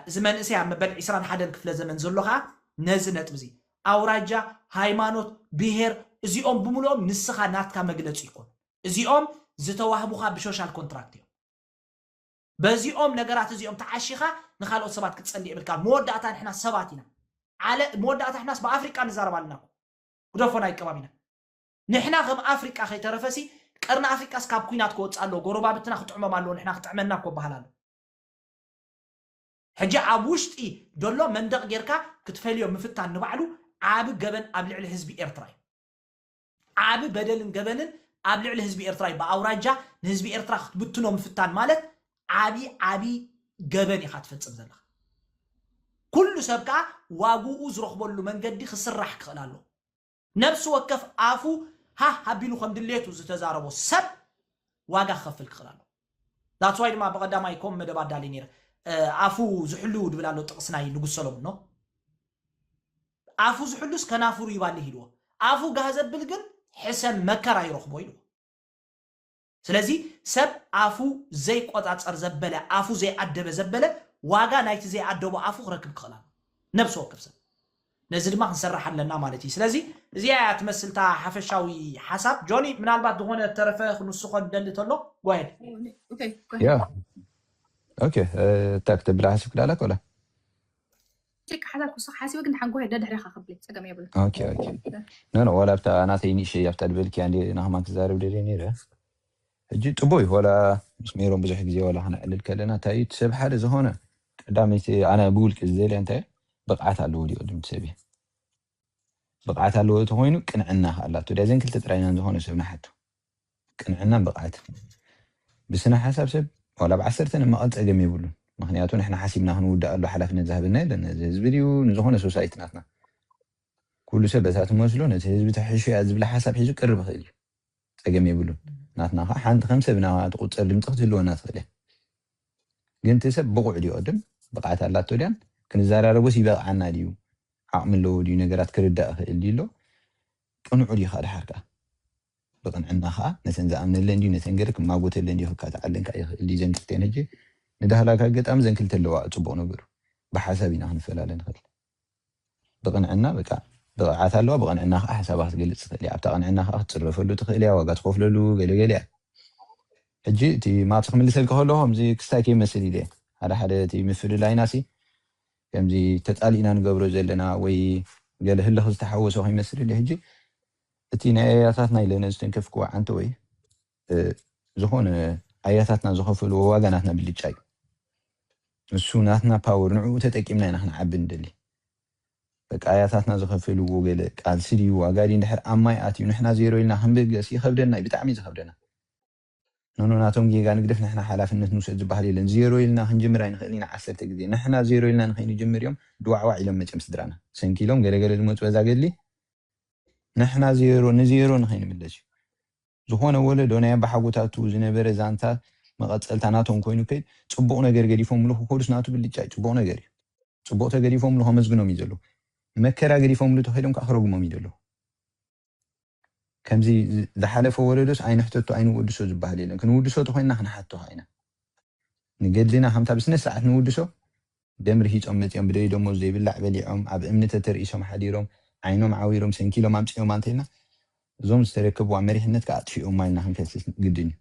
እዚ መንእሰይ ኣብ መበል ዕስራን ሓደን ክፍለ ዘመን ዘሎ ከኣ ነዚ ነጥቢ እዚ ኣውራጃ፣ ሃይማኖት፣ ብሄር እዚኦም ብምልኦም ንስኻ ናትካ መግለጺ ኣይኮኑን። እዚኦም ዝተዋህቡኻ ብሾሻል ኮንትራክት እዮም። በዚኦም ነገራት እዚኦም ተዓሺኻ ንኻልኦት ሰባት ክትጸሊ የብልካን መወዳእታ ንሕና ሰባት ኢና ዓለ መወዳእታ ንሕናስ ብኣፍሪቃ ንዛረብ ኣለና እኮ ግደፎ ናይ ከባቢና ንሕና ከም ኣፍሪቃ ከይተረፈሲ ቀርኒ ኣፍሪቃስ ካብ ኩናት ክወጽእ ኣለዎ ጎረባብትና ክጥዕሞም ኣለዎ ንሕና ክጥዕመና እኮ በሃል ኣሎ ሕጂ ኣብ ውሽጢ ደሎ መንደቕ ጌርካ ክትፈልዮ ምፍታን ንባዕሉ ዓቢ ገበን ኣብ ልዕሊ ህዝቢ ኤርትራ እዩ። ዓቢ በደልን ገበንን ኣብ ልዕሊ ህዝቢ ኤርትራ እዩ ብኣውራጃ ንህዝቢ ኤርትራ ክትብትኖ ምፍታን ማለት ዓቢ ዓቢ ገበን ኢኻ ትፈጽም ዘለኻ ኩሉ ሰብ ከኣ ዋግኡ ዝረኽበሉ መንገዲ ክስራሕ ክኽእል ኣሎ ነብሲ ወከፍ ኣፉ ሃህ ኣቢሉ ከም ድሌቱ ዝተዛረቦ ሰብ ዋጋ ክኸፍል ክኽእል ኣሎ That's why ድማ ብቀዳማይ ኮም መደብ ኣዳልየ ነይረ ኣፉ ዝሕሉ ድብል ኣሎ ጥቅስ ናይ ንጉስ ሰሎሙን ኖ ኣፉ ዝሕሉስ ከናፍሩ ይባልህ ኢልዎ ኣፉ ጋህ ዘብል ግን ሕሰም መከራ ይረኽቦ ኢልዎ ስለዚ ሰብ ኣፉ ዘይቆጻጸር ዘበለ ኣፉ ዘይኣደበ ዘበለ ዋጋ ናይቲ ዘይኣደቦ ኣፉ ክረክብ ክኽእል ኣሎ ነብሲ ወከፍ ሰብ ነዚ ድማ ክንሰርሕ ኣለና ማለት ኢዩ። ስለዚ እዚኣ ኢያ ትመስል እታ ሓፈሻዊ ሓሳብ። ጆኒ ምናልባት ዝኾነ ዝተረፈ ክንውስኾ ንደሊ ተሎ go ahead። Okay go ahead. ያ ኦኬ እንታይ ክተብላ ሓሲብኪ ዳኣ ኣላኪ ወላ ጭቅ ሓሳብ ክውስኽ ሓሲበ ግን ድሓን go ahead ደድሕሬኻ ክብሊ ጸገም የብሉን። ኦኬ ኦኬ ኖ ኖ ዋላ ኣብታ ናተይ ንእሸይ ኣብታ ዝበልክያ እንድየ ንከማን ክዛረብ ደልየ ነይረ። ሕጂ ጽቡቅ እዩ ዋላ ምስ ሜሮን ብዙሕ ግዜ ዋላ ክነዕልል ከለና እንታይ እዩ እቲ ሰብ ሓደ ዝኮነ ቀዳመይቲ ኣነ ብውልቂ ዝደልያ እንታይ እያ ብቅዓት ኣለዎ ድዩ ቅድም እቲ ሰብ እያ ብቅዓት ኣለዎ እቲ ኮይኑ ቅንዕና ከ ኣላቶ ድያ ዘን ክልተ ጥራይ ኢና ንዝኮነ ሰብ ንሓቱ ቅንዕናን ብቅዓትን ብስነ ሓሳብ ሰብ ዋላ ብ ዓሰርተ ንመቀል ጸገም የብሉን ምክንያቱ ንሕና ሓሲብና ክንውድኣሉ ሓላፍነት ዝሃበና የለን ነዚ ህዝቢ ድዩ ንዝኮነ ሶሳይቲ ናትና ኩሉ ሰብ በታ ትመስሎ ነቲ ህዝቢ ተሕሹ እያ ዝብላ ሓሳብ ሒዙ ቅርብ ይክእል እዩ ጸገም የብሉን ናትና ከኣ ሓንቲ ከም ሰብ ናባና ትቁጸር ድምጺ ክትህልወና ትክእል እያ ግን እቲ ሰብ ብቁዕ ድዩ ቅድም ብቅዓት ኣላቶ ድያን ክንዛራረቦስ ይበቅዓና ድዩ ዓቅሚ ኣለዎ ድዩ ነገራት ክርዳእ ይክእል ድዩ ኣሎ ቅኑዑ ድዩ ከኣ ድሓር ከኣ ብቅንዕና ከኣ ነተን ዝኣምነለን ድዩ ነተን ገለ ክማጎተለን ድዩ ክካትዓለን ከኣ ይክእል ድዩ ዘን ክልቲኣን ህጂ ንዳህላክ ኣገጣሚ ዘን ክልተ ኣለዋኣ ጽቡቅ ነገሩ ብሓሳብ ኢና ክንፈላለ ንክእል ብቕንዕና በቃ ብቕዓት ኣለዋ ብቕንዕና ከኣ ሓሳባ ክትገልጽ ትኽእል እያ ኣብታ ቅንዕና ከኣ ክትጽረፈሉ ትኽእል እያ ዋጋ ትኸፍለሉ ገለ ገለ እያ ሕጂ እቲ ማቲ ክምልሰልካ ከለኹ ከምዚ ክስታይ ከይመስል ኢለ ሓደ ሓደ እቲ ምፍልላይና ሲ ከምዚ ተጻሊእና ንገብሮ ዘለና ወይ ገለ ህልኽ ዝተሓወሶ ከይመስል ኢለ ሕጂ እቲ ናይ ኣያታትና ኢለ ነዝተንከፍክዎ ዓንተ ወይ ዝኾነ ኣያታትና ዝኸፈልዎ ዋጋ ናትና ብልጫ እዩ ንሱ ናትና ፓወር ንዕኡ ተጠቂምና ኢና ክንዓቢ ንደሊ በቃ ኣያታትና ዝኸፈልዎ ገለ ቃልሲ ድዩ ዋጋ ድዩ እንድሕር ኣብ ማይ ኣትዩ ንሕና ዜሮ ኢልና ክንብገስ ይኸብደና እዩ ብጣዕሚ እዩ ዝኸብደና ኖኖ ናቶም ጌጋ ንግደፍ ንሕና ሓላፍነት ንውሰድ ዝበሃል የለን ዜሮ ኢልና ክንጅምር ኣይንኽእልን ኢና ዓሰርተ ግዜ ንሕና ዜሮ ኢልና ንኸይንጅምር እዮም ድዋዕዋዕ ኢሎም መቸም ስድራና ሰንኪሎም ገለገለ ዝመፁ በዛ ገድሊ ንሕና ዜሮ ንዜሮ ንኸይንምለስ እዩ ዝኾነ ወለዶ ናይ ኣባሓጎታቱ ዝነበረ ዛንታ መቐጸልታ ናቶም ኮይኑ ከይ ጽቡቕ ነገር ገዲፎምሉ ክኸዱስ ናቱ ብልጫይ ጽቡቕ ነገር እዩ ጽቡቕ ተገዲፎምሉ ከመስግኖም እዩ ዘለዎ መከራ ገዲፎምሉ ተኸይዶም ከኣ ክረግሞም እዩ ዘለዎ ከምዚ ዝሓለፈ ወለዶስ ኣይንሕተቶ ኣይንወድሶ ዝበሃል የለን ክንውድሶ ተኾይንና ክንሓቶ ከኣ ኢና ንገድልና ከምታ ብስነ ስርዓት ንውድሶ ደም ርሂጾም መጺኦም ብደዩ ደሞዝ ዘይብላዕ በሊዖም ኣብ እምኒ ተተርኢሶም ሓዲሮም ዓይኖም ዓዊሮም ሰንኪሎም ኣምጺኦማ እንተኢልና እዞም ዝተረከብዋ መሪሕነት ከኣ ኣጥፊኦማ ኢልና ክንከስስ ግድን እዩ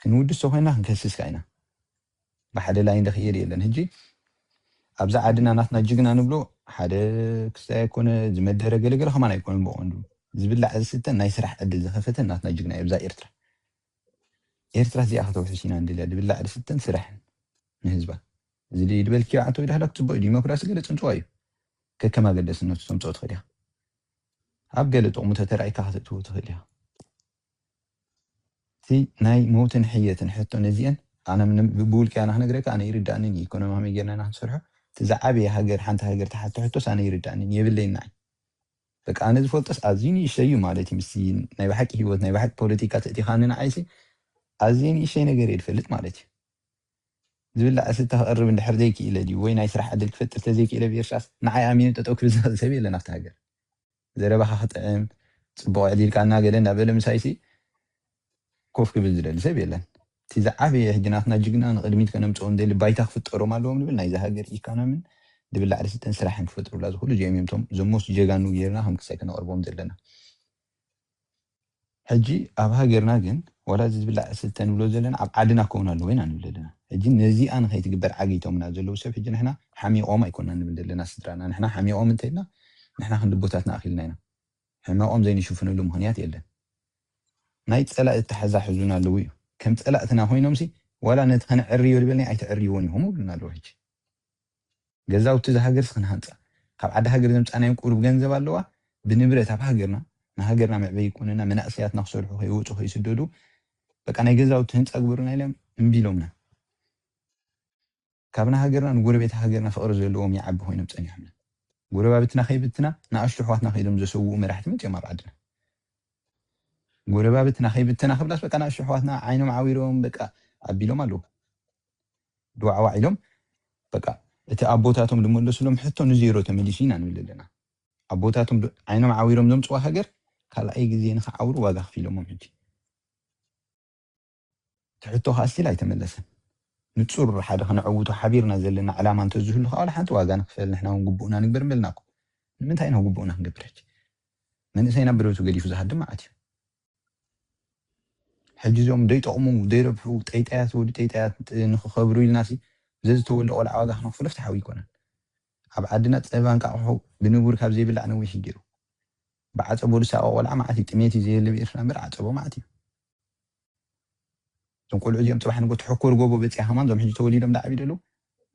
ክንውድስ ተኮይና ክንከስስ ከኣ ኢና ብሓደ ላይን ዶ ክይር የለን ህጂ ኣብዛ ዓድና ናትና ጅግና ንብሎ ሓደ ክስታይ ኣይኮነ ዝመደረ ገለገለ ከማን ኣይኮነን ብቀንዱ ዝብላዕ ዝስተን ናይ ስራሕ ዕድል ዝኸፈተን ናትና ጅግና እዩ ኣብዛ ኤርትራ ኤርትራ እዚኣ ከተውሕስ ኢና ንደልያ ድብላዕ ድስተን ስራሕን ንህዝባ እዚ ድዩ ድበልክዮ ዓንተው ዳህላክ ጽቡቅ እዩ ዲሞክራሲ ገለ ጽንጽዋ እዩ ከከም ኣገደስነቱ ተምጽኦ ትኽእል ኢኻ ኣብ ገለ ጥቕሙ ተተራኢካ ከተእትዎ ትኽእል ኢኻ እቲ ናይ መውትን ሕየትን ሕቶ ነዚአን ኣነ ብውልቂ ኣነ ክነግረካ ኣነ ይርዳእንን እዩ ኢኮኖሚ ከመይ ጌርና ኢና ክንሰርሖ እቲ ዝዓበየ ሃገር ሓንቲ ሃገር ተሓቶ ሕቶስ ኣነ ይርዳእንን የብለይን ንዓይ በቃ ኣነ ዝፈልጦስ ኣዝዩ ንእሽተይ እዩ ማለት እዩ ምስቲ ናይ ብሓቂ ሂወት ናይ ብሓቂ ፖለቲካ ተእቲኻኒ ንዓይሲ ኣዝየ ንእሽተይ ነገር እየ ዝፈልጥ ማለት እዩ ዝብላዕ ስተ ክቕርብ እንድሕር ዘይክኢለ ድዩ ወይ ናይ ስራሕ ዕድል ክፈጥር ተዘይክኢለ ብኤርትራስ ንዓይ ኣሚኑ ጠጠው ክብል ዝኽእል ሰብ የለን ኣብቲ ሃገር ዘረባኻ ክጥዕም ጽቡቕ ዕዲልካ እና ገለ እንዳበለ ምሳይሲ ኮፍ ክብል ዝደሊ ሰብ የለን። እቲ ዝዓበየ ሕጂ ናትና ጅግና ንቅድሚት ከነምጽኦም ደሊ ባይታ ክፍጠሮም ኣለዎም ንብል ናይዛ ሃገር ኢካናምን ድብል ላዕሊ ስልጠን ስራሕን ክፈጥሩላ ዝክእሉ እዚኦም እዮም እቶም ዘሞስት ጀጋኑ ገይርና ከም ክሳይ ከነቅርቦም ዘለና። ሕጂ ኣብ ሃገርና ግን ዋላ እዚ ድብል ላዕሊ ስልጠን ንብሎ ዘለና ኣብ ዓድና ክከውን ኣለዎ ኢና ንብል ደለና ሕጂ ነዚኣ ንከይትግበር ዓጊቶምና ዘለዉ ሰብ ሕጂ ንሕና ሓሚቆም ኣይኮናን ንብል ደለና ስድራና ንሕና ሓሚቆም እንተኢልና ንሕና ክንዲ ኣቦታትና ኣኪልና ኢና ሕመቆም ዘይንሽፍነሉ ምኽንያት የለን ናይ ፀላኢ ኣታሕዛ ሕዙና ኣለዉ እዩ ከም ፀላእትና ኮይኖምሲ ዋላ ነቲ ከነዕርዮ ድበልናዮ ኣይተዕርይዎን ኢኹም ይብሉና ኣለዉ ሕጂ ገዛውቲ እዛ ሃገርሲ ክንሃንፃ ካብ ዓዲ ሃገር ዘምፃእናዮም ቁሩብ ገንዘብ ኣለዋ ብንብረት ኣብ ሃገርና ንሃገርና መዕበይ ይኮነና መናእሰያትና ክሰርሑ ከይወፁ ከይስደዱ በቃ ናይ ገዛውቲ ህንፃ ግበሩና ኢሎም እምቢ ኢሎምና። ካብ ንሃገርና ንጎረቤት ሃገርና ፍቕሪ ዘለዎም ይዓቢ ኮይኖም ጸኒሖምና ጎረባብትና ከይብትና ንኣሽቱ ኣሕዋትና ከኢሎም ዘሰውኡ መራሕቲ መጺኦም ኣብ ዓድና ጎረባብትና ከይብተና ክብላስ በቃ ንኣሽቱ ኣሕዋትና ዓይኖም ዓዊሮም በቃ ኣቢሎም ኣለዉ ድዋዕዋዕ ኢሎም በቃ እቲ ኣቦታቶም ዝመለሱሎም ሕቶ ንዜሮ ተመሊሱ ኢና ንብል ኣለና ኣቦታቶም ዓይኖም ዓዊሮም ዘምጽዋ ሃገር ካልኣይ ግዜ ንክዓውሩ ዋጋ ክፊሎሞም ሕጂ እቲ ሕቶ ከኣ ስቲል ኣይተመለሰን። ንጹር ሓደ ከነዐውቶ ሓቢርና ዘለና ዕላማ እንተዝህሉ ከኣ ዋላ ሓንቲ ዋጋ ንኽፈል ንሕና ውን ግቡእና ንግበር ምበልና እኮ። ንምንታይ ኢና ግቡእና ክንገብር ሕጂ? መንእሰይ ናብ ብረቱ ገዲፉ ዝሃድም መዓት እዩ። ሕጂ እዞም ዘይጠቕሙ ዘይረብሑ ጠይጣያት ወዲ ጠይጣያት ንኽኸብሩ ኢልናሲ ዘዝተወልደ ቆልዓ ዋጋ ክነኽፍሎ ፍትሓዊ ኣይኮነን። ኣብ ዓድና ጸባ እንቃቑሖ ብንቡር ካብ ዘይብላዕ ነዊሕ እዩ ጌሩ። ብዓጸቦ ዝሳቐ ቆልዓ መዓት እዩ። ጥሜት እዩ ዘየለ ብኤርትራ እምበር ዓጸቦ መዓት እዩ። እዞም ቆልዑ እዚኦም ፅባሕ ንጎ ተሕኮር ጎቦ በፂያ ከማን እዞም ሕጂ ተወሊዶም ዳዓብዩ ደለዉ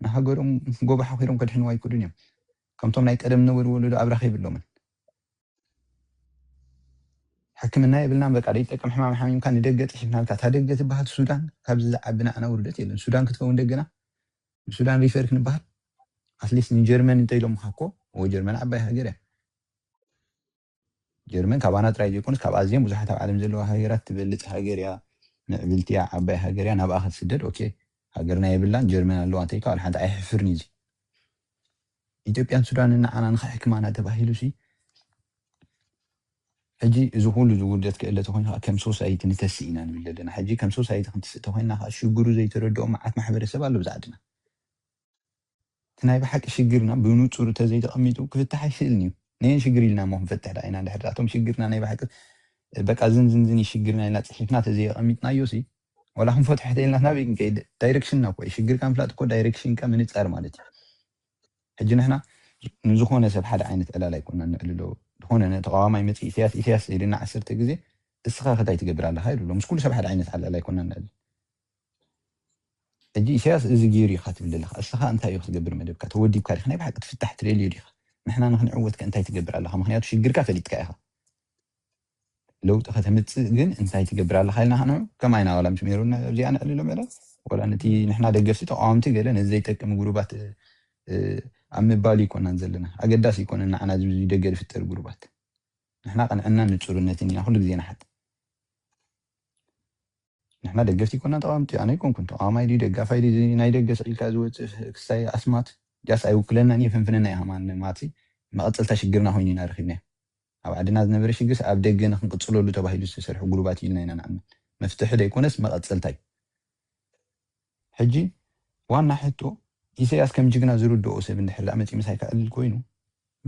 ንሃገሮም ጎቦ ሓኺሮም ከድሕንዋ ኣይክእሉን እዮም ከምቶም ናይ ቀደም ዝነበሩ ወለዶ ኣብራኽ የብሎምን ሕክምና የብልናን በቃ ዘይጠቅም ሕማም ሓሚምካ ንደገ ፅሒፍናልካ እታ ደገ ትበሃል ሱዳን ካብዚ ዝዓቢ ንዓና ውርደት የለን ሱዳን ክትከውን ደገና ንሱዳን ሪፈር ክንበሃል ኣትሊስት ንጀርመን እንተኢሎምኻ እኮ እዎ ጀርመን ዓባይ ሃገር እያ ጀርመን ካባና ጥራይ ዘይኮነስ ካብ ኣዝየን ብዙሓት ኣብ ዓለም ዘለዋ ሃገራት ትበልጽ ሃገር እያ ምዕብልቲ እያ ዓባይ ሃገር እያ ናብኣ ክትስደድ ኦኬ ሃገርና የብላን ጀርመን ኣለዋ እንተኢልካ ዋላ ሓንቲ ኣየሕፍርን እዩ እዚ ኢትዮጵያን ሱዳንን ንዓና ንኽሕክማና ተባሂሉ ሲ ሕጂ እዚ ኩሉ ዝውርደት ክእለ ተኮይኑ ከዓ ከም ሶሳይቲ ንተስእ ኢና ንብል ዘለና ሕጂ ከም ሶሳይቲ ክንትስእ ተኮይንና ከዓ ሽግሩ ዘይተረድኦ መዓት ማሕበረሰብ ኣሎ ብዛዕድና እቲ ናይ ብሓቂ ሽግርና ብኑጹር ተዘይ ተቀሚጡ ክፍታሕ ኣይክእልን እዩ ነየን ሽግር ኢልና እሞ ክንፈትሕ ድኣ ኢና ድሕሪ እቶም ሽግርና ናይ ብሓቂ በቃ ዝንዝንዝን እዩ ሽግርና ኢልና ጺሒፍና ተዘይ ኣቀሚጥናዮሲ ወላ ክንፈትሖ ሕተይ ኢልና ናበይ ክንከይድ ዳይረክሽንና እኮ እዩ ሽግርካ ምፍላጥ እኮ ዳይረክሽንካ ምንጻር ማለት እዩ ሕጂ ንሕና ንዝኾነ ሰብ ሓደ ዓይነት ዕላል ኣይኮናን ነዕልሎ ዝኾነ ተቃዋማይ መጺኡ ኢሰያስ ኢሰያስ ኢልና ዓሰርተ ግዜ እስኻ ከ ታይ ትገብር ኣለኻ ኢሉ ኣሎ ምስ ኩሉ ሰብ ሓደ ዓይነት ዕላል ኣይኮናን ንዕልል ሕጂ ኢሰያስ እዚ ጌሩ እዩ ኢኻ ትብል ዘለኻ እስኻ እንታይ እዩ ክትገብር መደብካ ተወዲብካ ዲኻ ናይ ብሓቂ ትፍታሕ ትደልዮ ዲኻ ንሕና ንኽንዕወት ከ እንታይ ትገብር ኣለኻ ምኽንያቱ ሽግርካ ፈሊጥካ ኢኻ ለውጢ ከተምጽእ ግን እንታይ ትገብር ኣለኻ ኢልና ንዑ ከማይ ናዋላ ምስ ሜሮን ኣብዚኣ ንዕልሎ ምዕላል ወላ ነቲ ንሕና ደገፍቲ ተቃዋምቲ ገለ ነዚ ዘይጠቅም ጉሩባት ኣብ ምባል ይኮናን ዘለና ኣገዳሲ ይኮነን ንዓና ዝብዚ ደገ ዝፍጠር ጉሩባት ንሕና ቅንዕናን ንጹርነትን ኢና ኩሉ ግዜ ንሓት ንሕና ደገፍቲ ኣይኮናን ተቓወምቲ ኣነ ኣይኮንኩን ተቓዋማይ ድዩ ደጋፋይ ድዩ እዚ ናይ ደገ ስቕ ኢልካ ዝወጽእ ክስታይ ኣስማት ዳስ ኣይውክለናን የፈንፍነና ኢኻ ማን ማቲ መቐጸልታ ሽግርና ኮይኑ ኢና ረኺብናዮ ኣብ ዓድና ዝነበረ ሽግርስ ኣብ ደገ ንኽንቕጽለሉ ተባሂሉ ዝተሰርሑ ጉሩባት እዩ ኢልና ኢና ንኣምን መፍትሒ ደይኮነስ መቐጸልታ እዩ ሕጂ ዋና ሕቶ ኢሰያስ ከም ጅግና ዝርድኦ ሰብ እንድሕር ደኣ መጺኡ ምሳይ ከዕልል ኮይኑ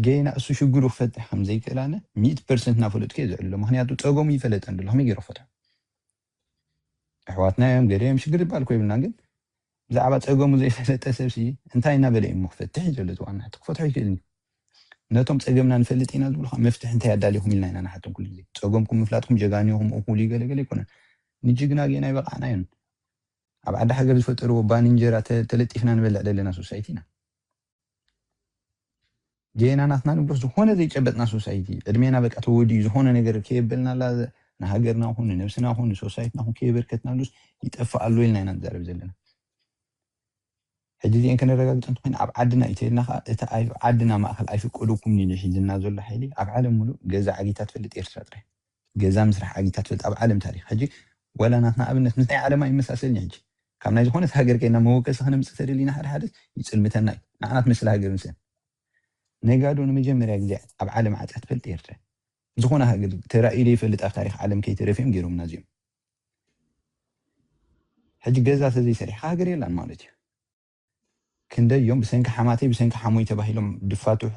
ገይና እሱ ሽግሩ ክፈትሕ ከም ዘይክእል ኣነ ሚእቲ ፐርሰንት እናፈለጥኩ እየ ዝዕልሎ ምኽንያቱ ጸገሙ ይፈለጥ እንድሎ ከመይ ገይሩ ክፈትሖ ኣሕዋትና እዮም ገለ እዮም ሽግር ዝበሃል እኮ የብልናን ግን ብዛዕባ ጸገሙ ዘይፈለጠ ሰብሲ እንታይ እናበለ እዩ እሞ ክፈትሕ እዩ ዘሎ እቲ ዋና ሕቶ ክፈትሖ ይክእልን እዩ ነቶም ጸገምና ንፈልጥ ኢና ዝብሉ ከዓ መፍትሒ እንታይ ኣዳሊኹም ኢልና ኢና ንሓቶም ኩሉ ግዜ ጸገምኩም ምፍላጥኩም ጀጋኑ ኢኹም እኹል እዩ ገለገለ ኣይኮነን ንጅግና ገይና ይበቃዕና እዮን ኣብ ዓዲ ሃገር ዝፈጠርዎ ባኒ እንጀራ ተለጢፍና ንበልዕ ዘለና ሶሳይቲ ኢና ጌና ናትና ንብሎ ዝኾነ ዘይጨበጥና ሶሳይቲ ዕድሜና በቃ ተወዲኡ ዝኾነ ነገር ከየበልናላ ንሃገርና ኹን ንነብስና ኹን ንሶሳይትና ኹን ከየበርከትናሉስ ይጠፍእ ኣሎ ኢልና ኢና ንዛረብ ዘለና ሕጂ እዚኤን ከነረጋግጸን እንተኾይና ኣብ ዓድና ኢተይልና ከኣ እቲ ኣብ ዓድና ማእከል ኣይፍቀደኩምን ኢሉ ሒዝልና ዘሎ ሓይሊ ኣብ ዓለም ምሉእ ገዛ ዓጊታ ትፈልጥ ኤርትራ ጥራይ ገዛ ምስራሕ ዓጊታ ትፈልጥ ኣብ ዓለም ታሪኽ ሕጂ ዋላ ናትና ኣብነት ምስ ናይ ዓለም ኣይመሳሰልን እዩ ሕጂ ካብ ናይ ዝኾነት ሃገር ከይድና መወከሲ ከነምጽእ ተደሊና ሓደ ሓደ ይጽልምተና እዩ ንዓና ትመስል ሃገር ምሰን ነጋዶ ንመጀመርያ ግዜ ኣብ ዓለም ዓጽያ ትፈልጥ ኤርትራ ዝኾነ ሃገር ተራእዩ ዘይፈልጥ ኣብ ታሪኽ ዓለም ከይተረፍዮም ጌሮምና እዚኦም። ሕጂ ገዛ ተዘይ ሰሪሕካ ሃገር የላን ማለት እዩ። ክንደይ እዮም ብሰንኪ ሓማተይ ብሰንኪ ሓሙይ ተባሂሎም ድፋትሑ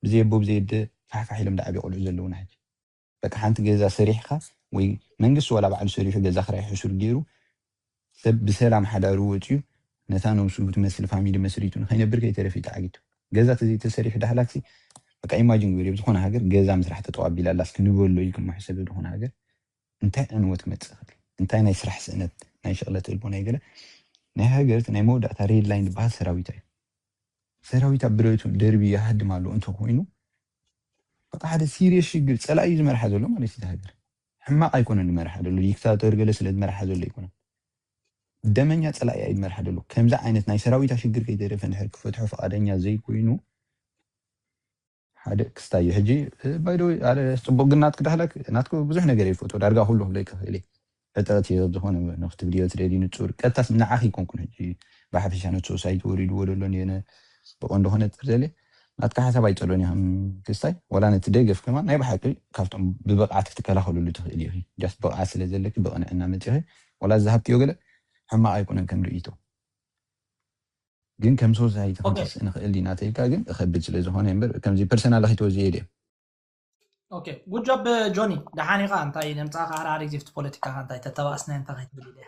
ብዘይ ኣቦ ብዘይ ኣደ ፋሕፋሕ ኢሎም ድዓብዩ ቆልዑ ዘለውና ሕጂ በቃ ሓንቲ ገዛ ሰሪሕካ ወይ መንግስቲ ዋላ ባዕሉ ሰሪሑ ገዛ ክራይ ሕሱር ጌሩ ሰብ ብሰላም ሓዳሩ ወጽዩ ነታ ነብሱ ትመስል ፋሚሊ መስሪቱ ንኸይነብር ከይተረፈ እዩ ተዓጊቱ ገዛ ተዘይ ተሰሪሑ ዳህላክሲ በቃ ኢማጂን ግበሪ ኣብ ዝኾነ ሃገር ገዛ ምስራሕ ጠጠው ኣቢላ ኣላስ ክንበሎ እዩ ክምሕሰብ ኣብ ዝኾነ ሃገር እንታይ ዕንወት ክመጽእ ይኽእል? እንታይ ናይ ስራሕ ስእነት፣ ናይ ሽቕለት እልቦ ናይ ገለ ናይ ሃገር ናይ መወዳእታ ሬድ ላይን ዝበሃል ሰራዊታ እዩ። ሰራዊታ ብረቱ ደርብዩ ይሃድም ኣሎ እንተ ኮይኑ በቃ ሓደ ሲርየስ ሽግር ጸላኢ እዩ ዝመርሓ ዘሎ ማለት እዩ። እታ ሃገር ሕማቕ ኣይኮነን ዝመርሓ ዘሎ ዲክታቶር ገለ ስለ ዝመርሓ ዘሎ ኣይኮነን ደመኛ ጸላኢኣ እዩ ዝመርሓ ዘሎ። ከምዚ ዓይነት ናይ ሰራዊታ ሽግር ከይተረፈ እንድሕር ክፈትሖ ፍቓደኛ ዘይኮይኑ ሓደ ክስታይ እዩ ሕጂ ባይ ዘ ወይ ኣረ ጽቡቅ ግን ናትኪ ዳህላክ ናትኪ ብዙሕ ነገር እየ ዝፈትዎ ዳርጋ ኩሉ ክብለኪ ይክእል እየ ዕጥቅት እየ ብዝኮነ ንክትብልዮ ትደልዪ ንጹር ቀጥታስ ንዓኺ ኣይኮንኩን ሕጂ ብሓፈሻ ነቲ ሶሳይቲ ወሪድዎ ዘሎ ንየነ ብቀንዱ ከነጽር ደልየ ናትኪ ሓሳብ ኣይጸሎን እየ ከም ክስታይ ወላ ነቲ ደገፍ ከማን ናይ ብሓቂ ካብቶም ብብቅዓት ክትከላኸልሉ ትክእሊ ኢኺ ጃስት ብቅዓት ስለ ዘለኪ ብቅንዕና መጺኺ ወላ ዝሃብክዮ ገለ ሕማቅ ኣይኮነን ከም ርእይቶ ግን ከም ሶሳይቲ ክንትስእ ንክእል ዲና ተልካ ግን እከብድ ስለ ዝኮነ እየ እምበር ከምዚ ፐርሰናል ኪትወ ዝየድየ። ኦኬ ጉድ ጆብ ጆኒ ደሓን ኢኻ እንታይ ነምጻኻ ሃራሪ ዚፍቲ ፖለቲካኻ እንታይ ተተባእስናዮ እንታይ ከይትብል ኢለ እየ